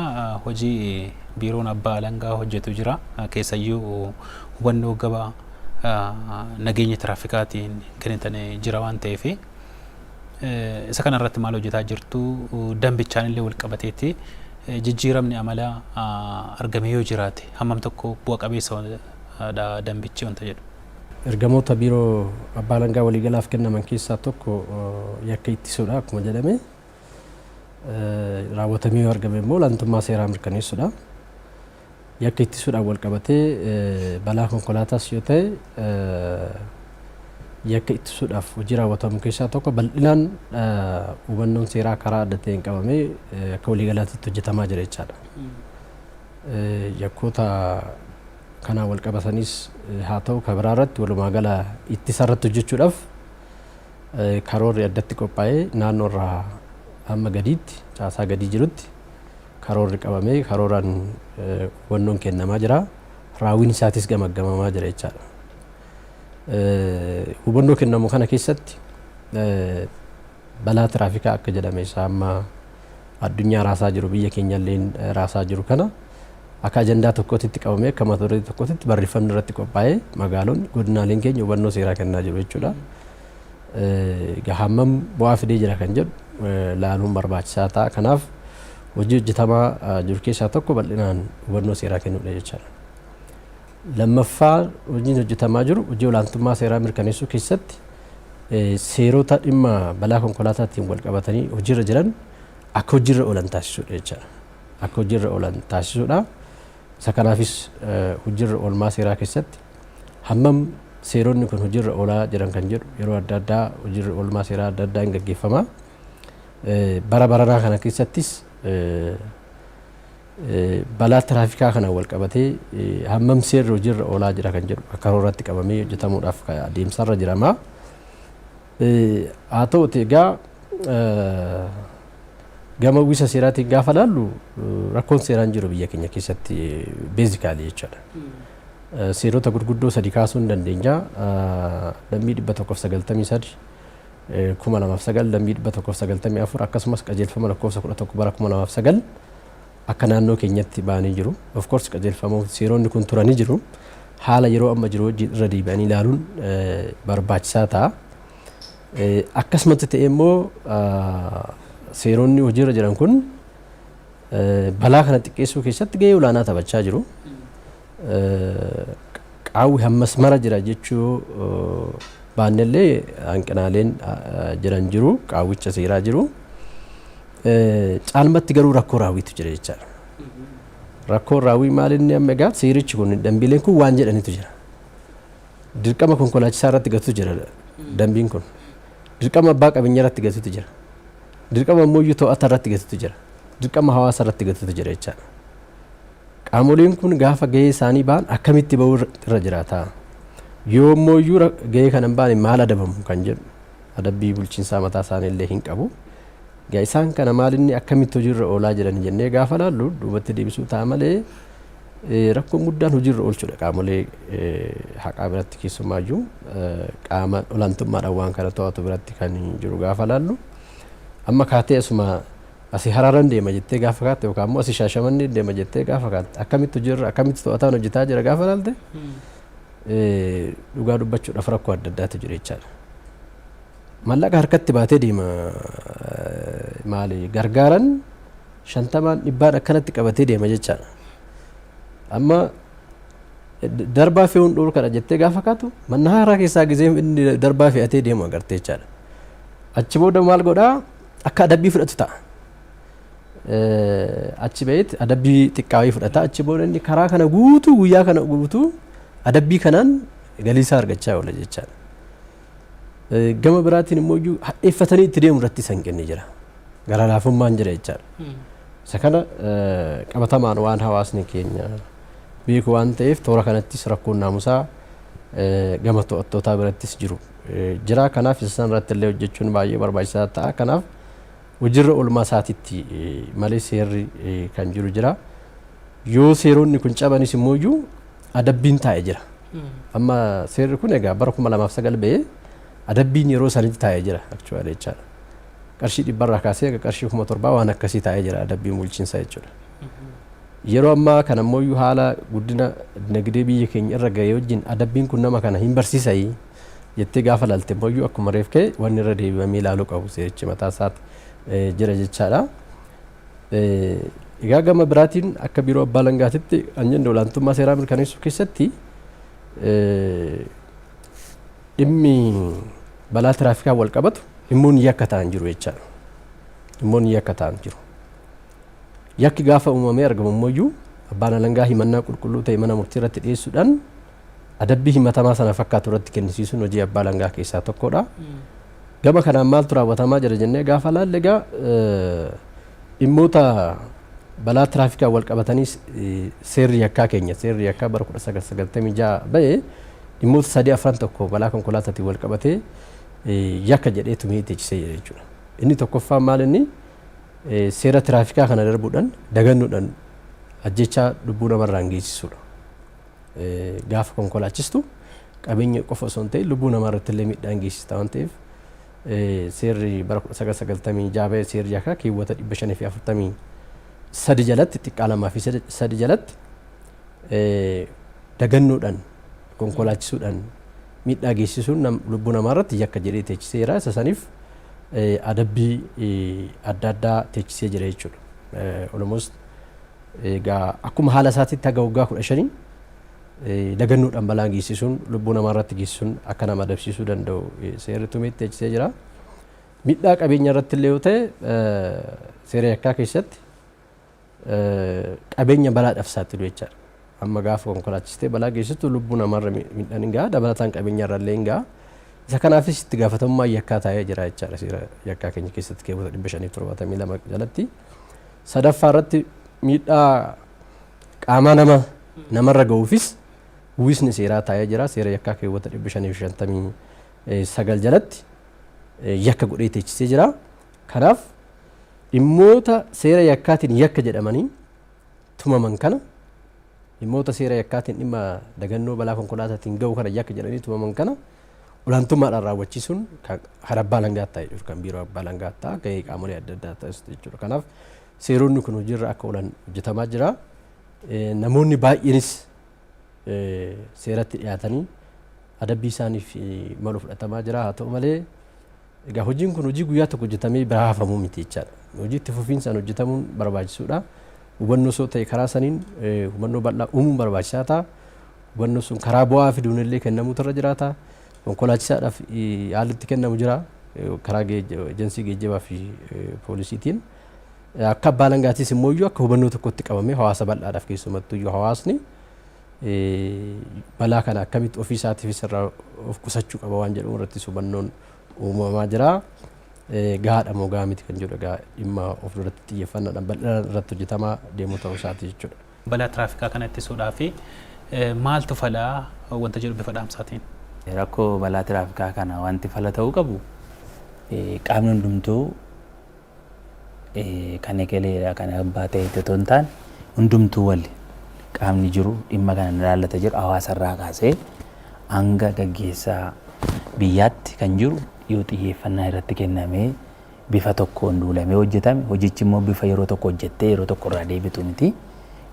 hojii biiroon abbaa alangaa hojjetu jira keessayyuu hubannoo gaba nageenya tiraafikaatiin kennitanii jira waan ta'eef Isa kanarratti maal hojjetaa jirtu? Dambichaan illee wal qabateetti jijjiiramni amala argame yoo jiraate hammam tokko bu'a qabeessa dha dambichi wanta jedhu. Ergamoota Biiroo Abbaa Alangaa Waliigalaaf kennaman keessaa tokko yakka ittisuudha akkuma jedhame. Raawwatamee yoo argame immoo olaantummaa seeraa mirkaneessuudha. Yakka ittisuudhaan walqabatee balaa konkolaataas yoo ta'e yakka ittisuudhaaf hojii raawwatamu keessaa tokko bal'inaan hubannoon seeraa karaa adda ta'een qabamee akka waliigalaatitti hojjetamaa jira jechaadha. Yakkoota kanaan walqabataniis haa ta'u kan biraa irratti walumaa gala ittisa irratti hojjechuudhaaf karoorri addatti qophaa'ee naannoo irraa hamma gadiitti caasaa gadii jirutti Karoorri qabamee karooraan hubannoon kennamaa jira. Raawwiin isaatis gamaggamamaa jira jechaadha. Hubannoo kennamu kana keessatti balaa tiraafikaa akka jedhame isaa amma addunyaa raasaa jiru biyya keenyalleen raasaa jiru kana akka ajandaa tokkootitti qabamee akka mata duree tokkootitti barreeffamni irratti qophaa'ee magaalonni godinaaleen keenya hubannoo seeraa kennaa jiru jechuudha. egaa hammam bu'aa fidee jira kan jedhu laaluun barbaachisaa ta'a. Kanaaf hojii hojjetamaa jiru keessaa tokko bal'inaan hubannoo seeraa kennuudha jechaadha. Lammaffaa hojiin hojjetamaa jiru hojii olaantummaa seeraa mirkaneessuu keessatti seerota dhimma balaa konkolaataatiin wal qabatanii hojiirra jiran akka hojiirra oolan taasisuudha jechaadha. Akka hojiirra oolan taasisuudha. Isa kanaafis hojiirra oolmaa seeraa keessatti Hammam seeronni kun hojiirra oolaa jiran kan jedhu yeroo adda addaa hojiirri oolmaa seeraa adda addaa hin gaggeeffama. Bara baranaa kana keessattis balaa tiraafikaa kanaan wal qabatee hammam seerri hojiirra oolaa jira kan jedhu akka karooraatti qabamee hojjetamuudhaaf adeemsarra jirama. Haa ta'uti egaa gama uwwisa seeraatiin gaafa laallu rakkoon seeraa hin jiru biyya keenya keessatti beezikaalii jechaadha. Seerota gurguddoo sadi kaasuu ni dandeenya. Dambii 193 2009 dambii 194 akkasumas qajeelfama lakkoofsa 11 bara 2009 akka naannoo keenyatti ba'anii jiru. Of course qajeelfamoota seeronni kun turanii jiru. Haala yeroo amma jiru wajjin irra deebi'anii ilaaluun barbaachisaa ta'a. Akkasumatti ta'e immoo seeronni hojiirra jiran kun balaa kana xiqqeessuu keessatti gahee olaanaa taphachaa jiru. Qaawwi hammas mara jira jechuu baannellee hanqinaaleen jiran jiru. Qaawwicha seeraa jiru. Caalmatti garuu rakkoo raawwiitu jira jechaadha. Rakkoon raawwii maal inni amma egaa seerichi kun dambiileen kun waan jedhanitu jira. Dirqama konkolaachisaa irratti gatutu jira dambiin kun. Dirqama abbaa qabeenyaa irratti gatutu jira. Dirqama immoo iyyuu to'ata irratti gatutu jira. Dirqama hawaasa irratti gatutu jira jechaadha. Qaamoleen kun gaafa gahee isaanii ba'an akkamitti ba'uu irra jiraata? Yoo immoo iyyuu gahee kana hin baane maal adabamu kan jedhu adabbii bulchiinsaa mataa isaanii illee hin qabu. Egaa isaan kana maalinni akkamitti hojiirra oolaa jiran jennee gaafa laallu duubatti deebisuu ta'a malee rakkoon guddaan hojiirra oolchuudha qaamolee haqaa biratti keessumaayyuu qaama olaantummaadhaan waan kana to'atu biratti kan jiru gaafa laallu amma kaatee asuma asi haraaran deema jettee gaafa kaatte yookaan immoo asi shaashamannee deema jettee gaafa kaatte akkamitti hojiirra akkamitti to'ataan hojjetaa jira gaafa laalte dhugaa dubbachuudhaaf rakkoo adda addaatu jira jechaadha. Mallaqa harkatti baatee deema maali gargaaran shantamaan dhibbaan akkanatti qabatee deema jechaadha. Amma darbaa fe'uun dhorkadha jettee gaafa kaatu manna haaraa keessaa gizee inni darbaa fe'atee deemu agartee jechaadha. Achi booda maal godhaa akka adabbii fudhatu ta'a. Achi ba'eet adabbii xiqqaa wayii fudhata achi booda inni karaa kana guutuu guyyaa kana guutuu adabbii kanaan galii isaa argachaa oola jechaadha. Gama biraatiin immoo iyyuu hadheeffatanii itti deemu irratti isa hin kenne jira. Gara laafummaan jira jechaadha. Isa kana qabatamaan waan hawaasni keenya beeku waan ta'eef toora kanattis rakkoon naamusaa gama to'attootaa birattis jiru jira. Kanaaf isa sana irratti illee hojjechuun baay'ee barbaachisaa ta'a. Kanaaf hojiirra oolmaa isaatitti malee seerri kan jiru jira. Yoo seeronni kun cabanis immoo iyyuu adabbiin taa'e jira. Amma seerri kun egaa bara 2009 ba'ee adabbiin yeroo sanitti taa'e jira actually jechaadha. Qarshii dhibba irraa kaasee egaa qarshii kuma torbaa waan akkasii taa'e jira adabbiin bulchiinsa jechuudha. Yeroo ammaa kana immoo iyyuu haala guddina dinagdee biyya keenya irra ga'ee wajjin adabbiin kun nama kana hin barsiisayi jettee gaafa laalte immoo iyyuu akkuma reef ka'e wanni irra deebi'amee ilaaluu qabu seerichi mataa isaatti eh, jira jechaadha. Egaa gama biraatiin akka biiroo abbaa alangaatitti kan jennu olaantummaa seeraa mirkaneessuu keessatti dhimmi balaa tiraafikaa wal qabatu dhimmoonni yakka ta'an jiru jechaadha. Dhimmoonni yakka ta'an jiru. Yakki gaafa uumamee argamu immoo abbaan alangaa himannaa qulqulluu ta'e mana murtii irratti dhiyeessuudhaan adabbii himatamaa sana fakkaatu irratti kennisiisuun hojii abbaa alangaa keessaa tokkodha. Gama kanaan maaltu raawwatamaa jira jennee gaafa laalle egaa dhimmoota balaa tiraafikaan wal qabatanii seerri yakkaa keenya seerri yakkaa bara 1996 ba'e dhimmoota sadii afran tokko balaa konkolaataatiin wal qabatee yakka jedhee tumee teechisee jira jechuudha. Inni tokkoffaan maal inni seera tiraafikaa kana darbuudhaan dagannuudhaan ajjechaa lubbuu namarraan geessisuudha. Gaafa konkolaachistu qabeenya qofa osoo hin ta'in lubbuu namaa irratti illee miidhaa hin geessista waan ta'eef seerri bara 1996 ba'e seerri yakkaa keewwata 543 jalatti xiqqaa lamaa fi sadi jalatti dagannoodhaan konkolaachisuudhaan miidhaa geessisuun lubbuu namaa irratti yakka jedhee teechiseera isa saniif adabbii adda addaa teechisee jira jechuudha. Almost Egaa akkuma haala isaatiitti haga waggaa 15 lagannoodhaan balaan geessisuun lubbuu namaa irratti geessisuun akka nama adabsiisuu danda'u seerri tumee teechisee jira. Midhaa qabeenya irratti illee yoo ta'e seera yakkaa keessatti qabeenya balaadhaaf saaxilu jechaadha. Amma gaafa konkolaachistee balaa geessistu lubbuu namaarra midhaan hin ga'a dabalataan qabeenya irra illee hin ga'a. Isa kanaafis itti gaafatamummaa yakkaa taa'ee jira jechaadha seera yakkaa keenya keessatti keewwata 572 jalatti. Sadaffaa irratti miidhaa qaamaa nama namarra ga'uufis uwwisni seeraa taa'ee jira. Seera yakkaa keewwata 559 jalatti eh, yakka godhee teechisee jira. Kanaaf dhimmoota seera yakkaatiin yakka jedhamanii tumaman kana dhimmoota seera yakkaatiin dhimma dagannoo balaa konkolaataatiin ga'u kana yakka jedhanii tumaman kana olaantummaadhaan raawwachiisuun kan kan abbaa alangaatti ta'a jechuudha. Kan biiroo abbaa alangaatti ta'a gahee qaamolee adda addaa ta'us jechuudha. Kanaaf seeronni kun hojiirra akka oolan hojjetamaa jira. Eh, Namoonni baay'eenis eh, seeratti dhiyaatanii adabbii isaaniif eh, malu fudhatamaa jira. Haa ta'u malee Egaa hojiin kun hojii guyyaa tokko hojjetamee biraa hafamu miti jechaadha. Hojii itti fufiinsaan hojjetamuun barbaachisuudha. Hubannoos yoo ta'e karaa saniin hubannoo bal'aa uumuun barbaachisaa ta'a. Hubannoon sun karaa bu'aa fiduun illee kennamuutu irra jiraata. Konkolaachisaadhaaf haalli itti kennamu jira. Karaa ejensii geejjibaa fi poolisiitiin. Akka abbaa alangaatiis immoo iyyuu akka hubannoo tokkotti qabamee hawaasa bal'aadhaaf keessumattuu iyyuu hawaasni balaa kana akkamitti ofii isaatiifis irraa of qusachuu qaba waan jedhu irrattis hubannoon uumamaa jira. Gahaadha moo gahaa miti kan jedhu egaa dhimma of duratti xiyyeeffannaadhaan bal'inaan irratti hojjetamaa deemuu ta'uu isaati jechuudha. Balaa tiraafikaa kana ittisuudhaaf maaltu fala wanta jedhu bifa dhaamsaatiin? Rakkoo balaa tiraafikaa kana wanti fala ta'uu qabu qaamni hundumtuu kan egelee kan abbaa ta'etti otoo hin taane hundumtuu wal qaamni jiru dhimma kana ni ilaallata jedhu hawaasa irraa kaasee hanga gaggeessaa biyyaatti kan jiru yoo xiyyeeffannaa irratti kennamee bifa tokkoon duulamee hojjetame hojichi immoo bifa yeroo tokko hojjettee yeroo tokko irraa deebitu miti.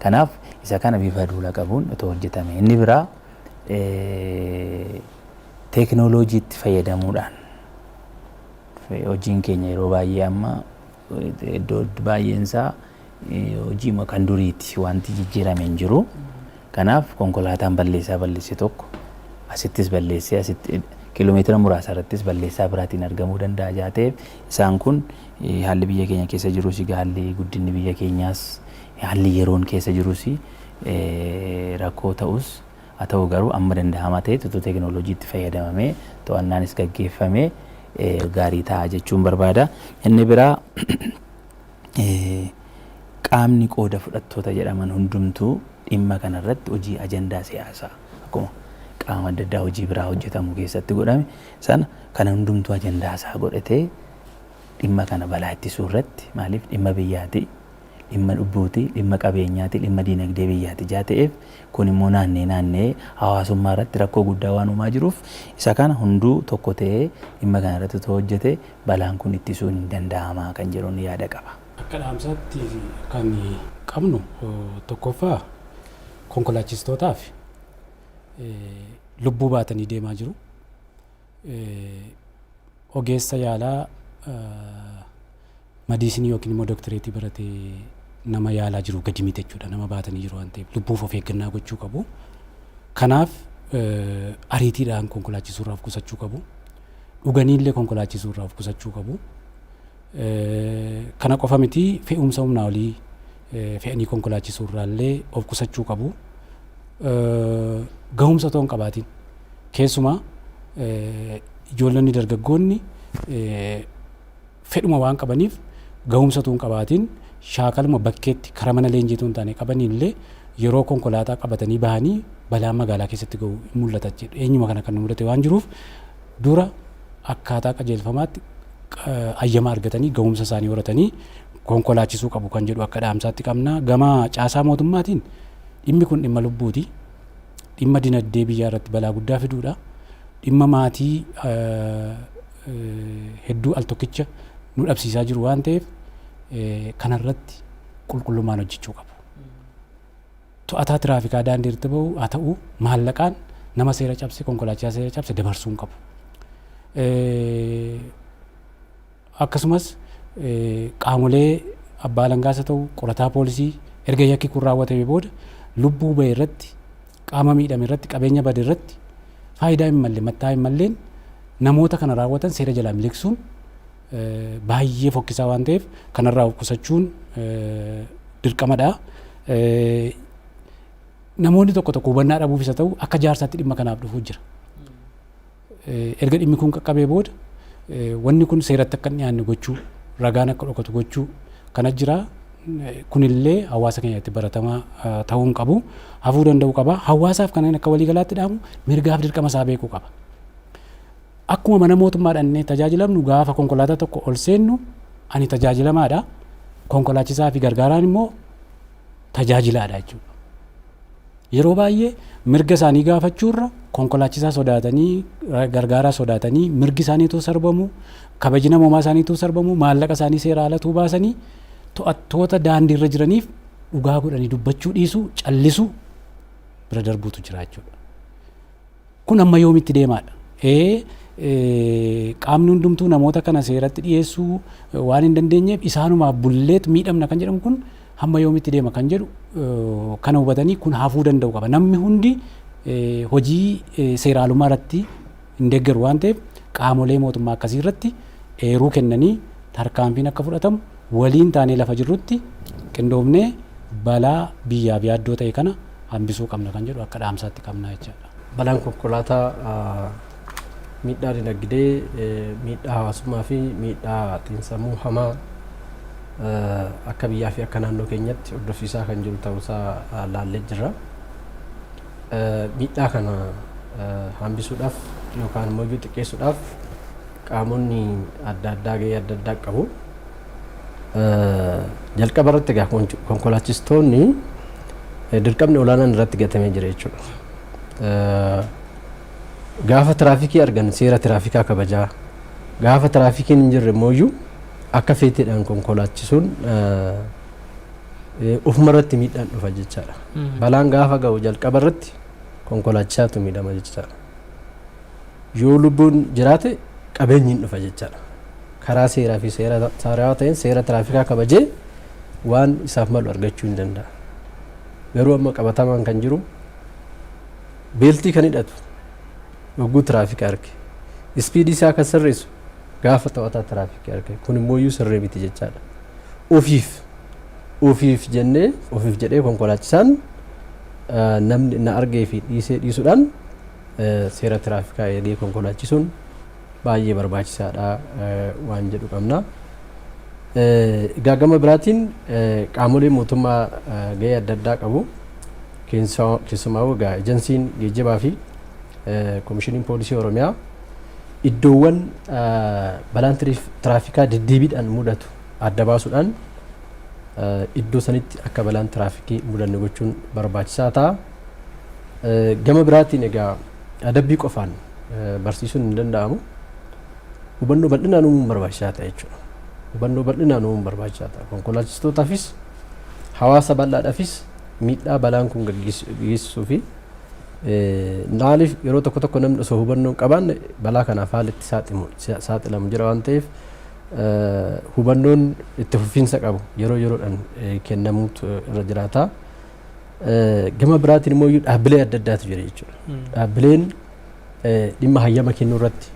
Kanaaf isa kana bifa duula qabuun otoo hojjetame inni biraa teekinooloojiitti fayyadamuudhaan Hojiin keenya yeroo baay'ee amma iddoo baay'een isaa hojiima kan duriiti. Wanti jijjiirame hin jiru. Kanaaf konkolaataan balleessaa balleesse tokko asittis balleessee asitti kiiloomeetira muraasa irrattis balleessaa biraatiin argamuu danda'a jaa ta'eef isaan kun haalli biyya keenya keessa jirus egaa haalli guddinni biyya keenyaas haalli yeroon keessa jirus rakkoo ta'us Haa ta'u garuu amma danda'amaa ta'etti utuu teeknooloojiitti fayyadamamee to'annaanis gaggeeffame gaarii ta'a jechuun barbaada. Inni biraa qaamni qooda fudhattoota jedhaman hundumtuu dhimma kana irratti hojii ajandaa siyaasaa akkuma qaama adda addaa hojii biraa hojjetamu keessatti godhame sana kana hundumtuu ajandaa isaa godhatee dhimma kana balaa ittisuu irratti maaliif dhimma biyyaati dhimma lubbuuti, dhimma qabeenyaati, dhimma diinagdee biyyaati ijaa ta'eef kun immoo naannee naanna'ee hawaasummaa irratti rakkoo guddaa waan uumaa jiruuf isa kana hunduu tokko ta'ee dhimma kana irratti otoo hojjete balaan kun ittisuun hin danda'ama kan jedhun yaada qaba. Akka dhaamsaatti kan qabnu tokkoffaa konkolaachistootaaf lubbuu baatanii deemaa jiru. ogeessa yaalaa madiisinii yookiin immoo doktireetii barate nama yaalaa jiru gadi miti jechuudha nama baatanii jiru waan ta'eef lubbuuf of eeggannaa gochuu qabu. Kanaaf ariitiidhaan konkolaachisuu irraa of qusachuu qabu. Dhuganiillee konkolaachisuu irraa of qusachuu qabu. Kana qofa miti fe'umsa humnaa olii fe'anii konkolaachisuu irraallee of qusachuu qabu. Gahumsa otoo hin qabaatiin keessumaa ijoollonni dargaggoonni fedhuma waan qabaniif gahumsa otoo hin qabaatiin shaakaluma bakkeetti karaa mana leenjii otoo hin taane qabaniillee yeroo konkolaataa qabatanii bahanii balaan magaalaa keessatti gahu mul'ata jechuudha. Eenyuma kana kan nu mudate waan jiruuf dura akkaataa qajeelfamaatti ayyama argatanii gahumsa isaanii horatanii konkolaachisuu qabu kan jedhu akka dhaamsaatti qabna. Gama caasaa mootummaatiin dhimmi kun dhimma lubbuuti. Dhimma dinagdee biyyaa irratti balaa guddaa fiduudha. Dhimma maatii hedduu al tokkicha nu dhabsiisaa jiru waan ta'eef kanarratti qulqullummaan hojjechuu qabu. To'ataa tiraafikaa daandii irratti ba'u haa ta'u maallaqaan nama seera cabse konkolaachisaa seera cabse dabarsuu hin qabu. Akkasumas qaamolee abbaa alangaas haa ta'u qorataa poolisii erga yakki kun raawwatame booda lubbuu ba'e irratti qaama miidhame irratti qabeenya bade irratti faayidaa hin malle mattaa hin malleen namoota kana raawwatan seera jalaa miliqsuun baay'ee fokkisaa waan ta'eef kanarraa of qusachuun dirqamadha. Namoonni tokko tokko hubannaa dhabuufis haa ta'u akka jaarsaatti dhimma kanaaf dhufuu jira. Erga dhimmi kun qaqqabee booda wanni kun seeratti akka hin dhiyaanne gochuu ragaan akka dhokatu gochuu kana jira. Kunillee hawaasa keenyatti baratamaa ta'uu hin qabu. Hafuu danda'uu qaba. Hawaasaaf kanneen akka waliigalaatti dhaamu mirgaaf dirqama isaa beekuu qaba. Akkuma mana mootummaa dhannee tajaajilamnu gaafa konkolaataa tokko ol seennu ani tajaajilamaadha. Konkolaachisaa fi gargaaraan immoo tajaajilaadha jechuudha. Yeroo baay'ee mirga isaanii gaafachuurra konkolaachisaa sodaatanii gargaaraa sodaatanii mirgi isaaniituu sarbamu kabaji namoomaa isaaniituu sarbamu maallaqa isaanii seeraa alatuu baasanii to'attoota daandiirra jiraniif dhugaa godhanii dubbachuu dhiisuu callisuu bira darbuutu jira jechuudha. Kun amma yoomitti deemaadha? Ee, qaamni hundumtuu namoota kana seeratti dhiyeessuu waan hin dandeenyeef isaanumaaf bulleet miidhamna kan jedhamu kun hamma yoomitti deema kan jedhu kana hubatanii kun hafuu danda'u qaba. Namni hundi hojii seeraalummaa irratti hin deeggaru waan ta'eef qaamolee mootummaa akkasii irratti eeruu kennanii tarkaanfiin akka fudhatamu waliin taanee lafa jirrutti qindoomnee balaa biyyaaf yaaddoo ta'e kana hambisuu qabna kan jedhu akka dhaamsaatti qabna jechaadha. Balaan konkolaataa miidhaa dinagdee, miidhaa hawaasummaa fi miidhaa xiinsammuu hamaa akka biyyaa fi akka naannoo keenyatti hordofsiisaa kan jiru ta'uusaa laallee jirra. Miidhaa kana hambisuudhaaf yookaan immoo xiqqeessuudhaaf qaamonni adda addaa gahee adda addaa qabu. Jalqaba irratti egaa konkolaachistoonni dirqamni olaanaan irratti gatamee jira jechuudha. Gaafa tiraafikii argan seera tiraafikaa kabajaa gaafa tiraafikiin hin jirre immoo iyyuu akka feeteedhaan konkolaachisuun ofuma irratti miidhaan dhufa jechaadha. Balaan gaafa ga'u jalqaba irratti konkolaachisaatu miidhama jechaadha. Yoo lubbuun jiraate qabeenyi hin dhufa jechaadha. Karaa seeraa fi seera saarawaa ta'een seera tiraafikaa kabajee waan isaaf malu argachuu hin danda'a. Garuu amma qabatamaan kan jiru beeltii kan hidhatu yogguu tiraafika arge ispiidii isaa kan sirreessu gaafa to'ataa tiraafikii argee kun immoo iyyuu sirrii miti jechaadha. Ofiif ofiif jennee ofiif jedhee konkolaachisaan namni na argee fi dhiisee dhiisuudhaan seera tiraafikaa eegee konkolaachisuun baay'ee barbaachisaadha waan jedhu qabna. Egaa gama biraatiin qaamolee mootummaa gahee adda addaa qabu. Keessumaa egaa ejensiin geejjibaa fi komishiniin poolisii Oromiyaa Iddoowwan balaan tiraafikaa deddeebiidhaan mudatu adda baasuudhaan iddoo sanitti akka balaan tiraafikii mudanne gochuun barbaachisaa ta'a. Gama biraatiin egaa adabbii qofaan barsiisuun hin danda'amu. Hubannoo bal'inaan uumuun barbaachisaa ta'a jechuudha. Hubannoo bal'inaan uumuun barbaachisaa ta'a. Konkolaachistootaafis hawaasa bal'aadhaafis miidhaa balaan kun geessisuu fi Maaliif yeroo tokko tokko namni osoo hubannoo hin qabaanne balaa kanaaf haalli itti saaximu- sa- saaxilamu jira waan ta'eef eh, hubannoon itti fufiinsa qabu yeroo yeroodhaan eh, kennamuutu irra jiraata. Eh, Gama biraatiin immoo iyyuu dhaabbilee adda addaatu jira jechuudha. Dhaabbileen eh, dhimma hayyama kennuu irratti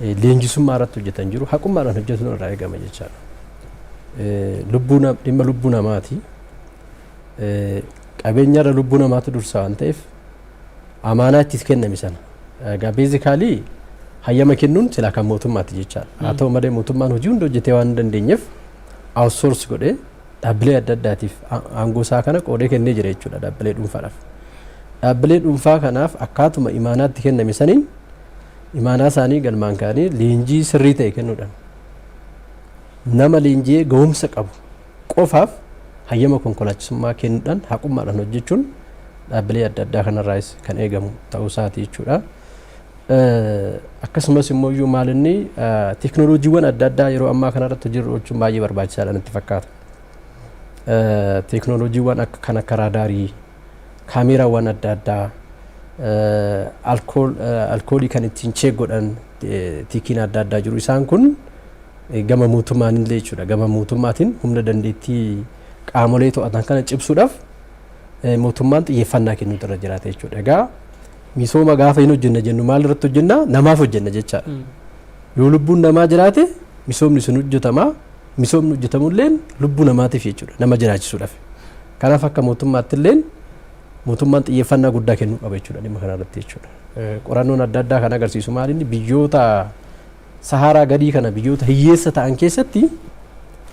eh, leenjisummaa irratti hojjetan jiru haqummaadhaan hojjetuun irraa eegama jechaadha. Eh, Lubbuu nam- dhimma lubbuu namaati. qabeenyarra lubbuu namaatu dursa waan ta'eef amaanaa itti kenname sana egaa beezikaalii hayyama kennuun silaa kan mootummaati jechaadha. Haa ta'u malee mootummaan hojii hunda hojjetee waan hin dandeenyeef outsource godhee dhaabbilee adda addaatiif a- aangoo isaa kana qoodee kennee jira jechuudha dhaabbilee dhuunfaadhaaf. Dhaabbilee dhuunfaa kanaaf akkaatuma imaanaatti kenname saniin imaanaa isaanii galmaan ka'anii leenjii sirrii ta'e kennuudhaan nama leenji'ee ga'umsa qabu qofaaf hayyama konkolaachisummaa kennudhaan haqummaadhaan hojjechuun dhaabbilee adda addaa kanarraayis kan eegamu ta'uu isaati jechuudha. Akkasumas immoo iyyuu maal inni teeknooloojiiwwan adda addaa yeroo ammaa kanarratti hojiirra oolchuun baay'ee barbaachisaadha natti fakkaata. Teeknooloojiiwwan kan akka raadaarii kaameeraawwan adda addaa, alkoolii kan ittiin cheek godhan tikiin adda addaa jiru. Isaan kun gama mootummaan illee jechuudha. Gama mootummaatiin humna dandeettii qaamolee to'atan kana cimsuudhaaf mootummaan xiyyeeffannaa kennuutu irra jiraata jechuudha. Egaa misooma gaafa hin hojjenna jennu maal irratti hojjenna? Namaaf hojjenna jechaadha. Yoo lubbuun namaa jiraate misoomni sun hojjetama. Misoomni hojjetamu illeen lubbuu namaatiif jechuudha. Nama jiraachisuudhaaf. Kanaaf akka mootummaatti illeen mootummaan xiyyeeffannaa guddaa kennuu qaba jechuudha dhimma kana irratti jechuudha. Qorannoon adda addaa kan agarsiisu maal inni biyyoota sahaaraa gadii kana biyyoota hiyyeessa ta'an keessatti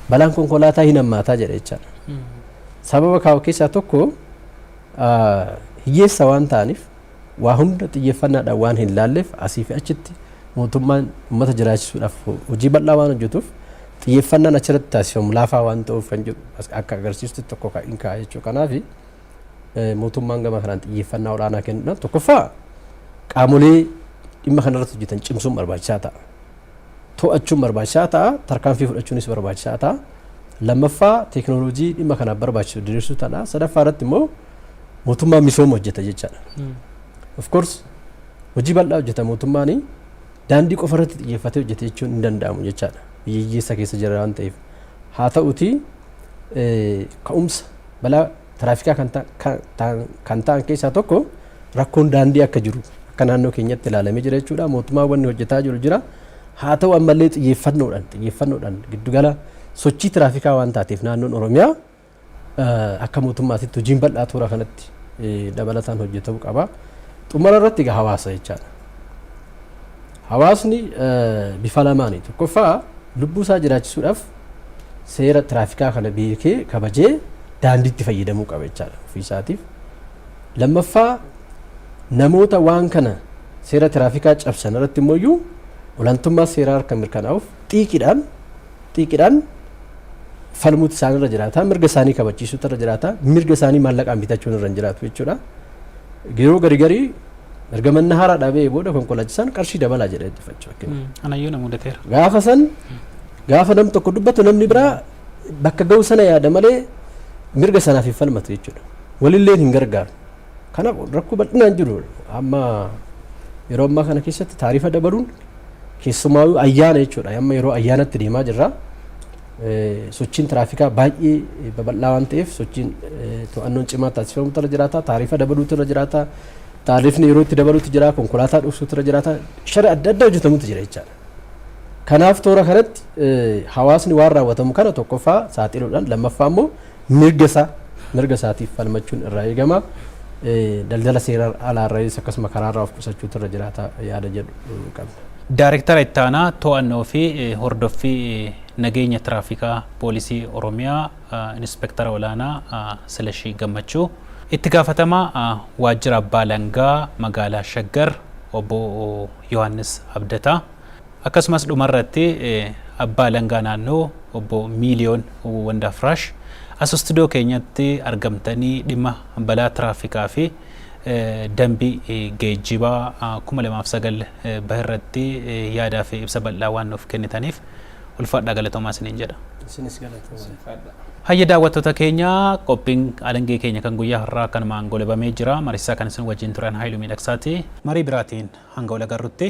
balaan konkolaataa hin hammaataa jedha jechaadha. Sababa kaa'u keessaa tokko hiyyeessa waan ta'aniif waa hunda xiyyeeffannaadhaan waan hin laalleef asii fi achitti mootummaan uummata jiraachisuudhaaf hojii bal'aa waan hojjetuuf xiyyeeffannaan achirratti taasifamu laafaa waan ta'uuf kan jedhu akka agarsiistu tokko kan hin kaa'e jechuudha. Kanaaf mootummaan gama kanaan xiyyeeffannaa olaanaa kennuudhaan tokkoffaa qaamolee dhimma kanarratti hojjetan cimsuun barbaachisaa ta'a. To'achuun barbaachisaa ta'a, tarkaanfii fudhachuunis barbaachisaa ta'a. Lammaffaa teekinooloojii dhimma kanaaf barbaachisu diriirsuu ta'a. Sadaffaa irratti immoo mootummaan misooma hojjeta jechaadha. Of course hojii bal'aa hojjeta mootummaan daandii qofa irratti xiyyeeffatee hojjete jechuun hin danda'amu jechaadha. Biyya hiyyeessa keessa jira waan ta'eef. Haa ta'uti eh, ka'umsa balaa tiraafikaa kan ta- ka- ta'an- kan ta'an keessaa tokko rakkoon daandii akka jiru akka naannoo keenyatti ilaalamee jira jechuudha. Mootummaan wanni hojjetaa jiru jira. Haa ta'u ammallee xiyyeeffannoodhaan xiyyeeffannoodhaan giddugala sochii tiraafikaa waan taateef naannoon Oromiyaa Akka mootummaatitti hojiin bal'aa toora kanatti dabalataan hojjetamuu qaba. Xumura irratti egaa hawaasa jechaadha. Hawaasni bifa lamaani. Tokkoffaa lubbuu isaa jiraachisuudhaaf seera tiraafikaa kana beekee kabajee daandiitti fayyadamuu qaba jechaadha ofii isaatiif. Lammaffaa namoota waan kana seera tiraafikaa cabsan irratti immoo iyyuu olaantummaa seeraa akka mirkanaa'uuf xiiqiidhaan xiiqidhaan falmuutu isaan irra jiraata. Mirga isaanii kabachiisuutu irra jiraata. Mirga isaanii maallaqaan bitachuun irra hin jiraatu jechuudha. Yeroo gari garii erga manna haaraa dhaabee booda konkolaachisaan qarshii dabalaa jedhee itti faccaa. Anayyuu na mudateera. Gaafa san gaafa nam tokko dubbatu namni biraa bakka ga'u sana yaada malee mirga sanaaf hin falmatu jechuudha. Walillee hin gargaaru. Kanaaf rakkoo bal'inaan jiru amma yeroo ammaa kana keessatti taarifa dabaluun keessumaa ayyaana jechuudha. Amma yeroo ayyaanatti deemaa jirra. Sochiin tiraafikaa baay'ee babal'aa waan ta'eef sochiin to'annoon cimaa taasifamutu irra jiraata. Taarifa dabaluutu irra jiraata. Taarifni yeroo itti dabaluutu jira. Konkolaataa dhoksuutu irra jiraata. Shira adda addaa hojjetamutu jira jechaadha. Kanaaf toora kanatti hawaasni waan raawwatamu kana tokkoffaa saaxiluudhaan lammaffaa immoo mirga isaa mirga isaatiif falmachuun irraa eegama. Daldala seera alaarraayis akkasuma karaarraa of qusachuutu irra jiraata yaada jedhu qabna. Daarektara Ittaanaa To'annoo fi Hordoffii Nageenya Tiraafikaa Poolisii Oromiyaa Inispektara Olaanaa Silashii Gammachuu, Itti Gaafatamaa Waajjira Abbaa Alangaa Magaalaa Shaggar Obbo. Yohaannis Abdataa, akkasumas dhumarratti Abbaa Alangaa Naannoo Obbo Miiliyoon Wandafraash as istudiyoo keenyatti argamtanii dhimma balaa tiraafikaa fi dambii geejjibaa 2009 bahe irratti yaadaa fi ibsa bal'aa waan nuuf kennitaniif Ulfaadhaa galatoomaa isiniin jedha. Isinis galatoomaa. Hayya daawwattoota keenya qophiin alangee keenya kan guyyaa har'aa kanumaan golabamee jira. Mariisaa kan isin wajjin turan Haayiluu Miidhagsaati. Marii biraatiin hanga wal agarrutti.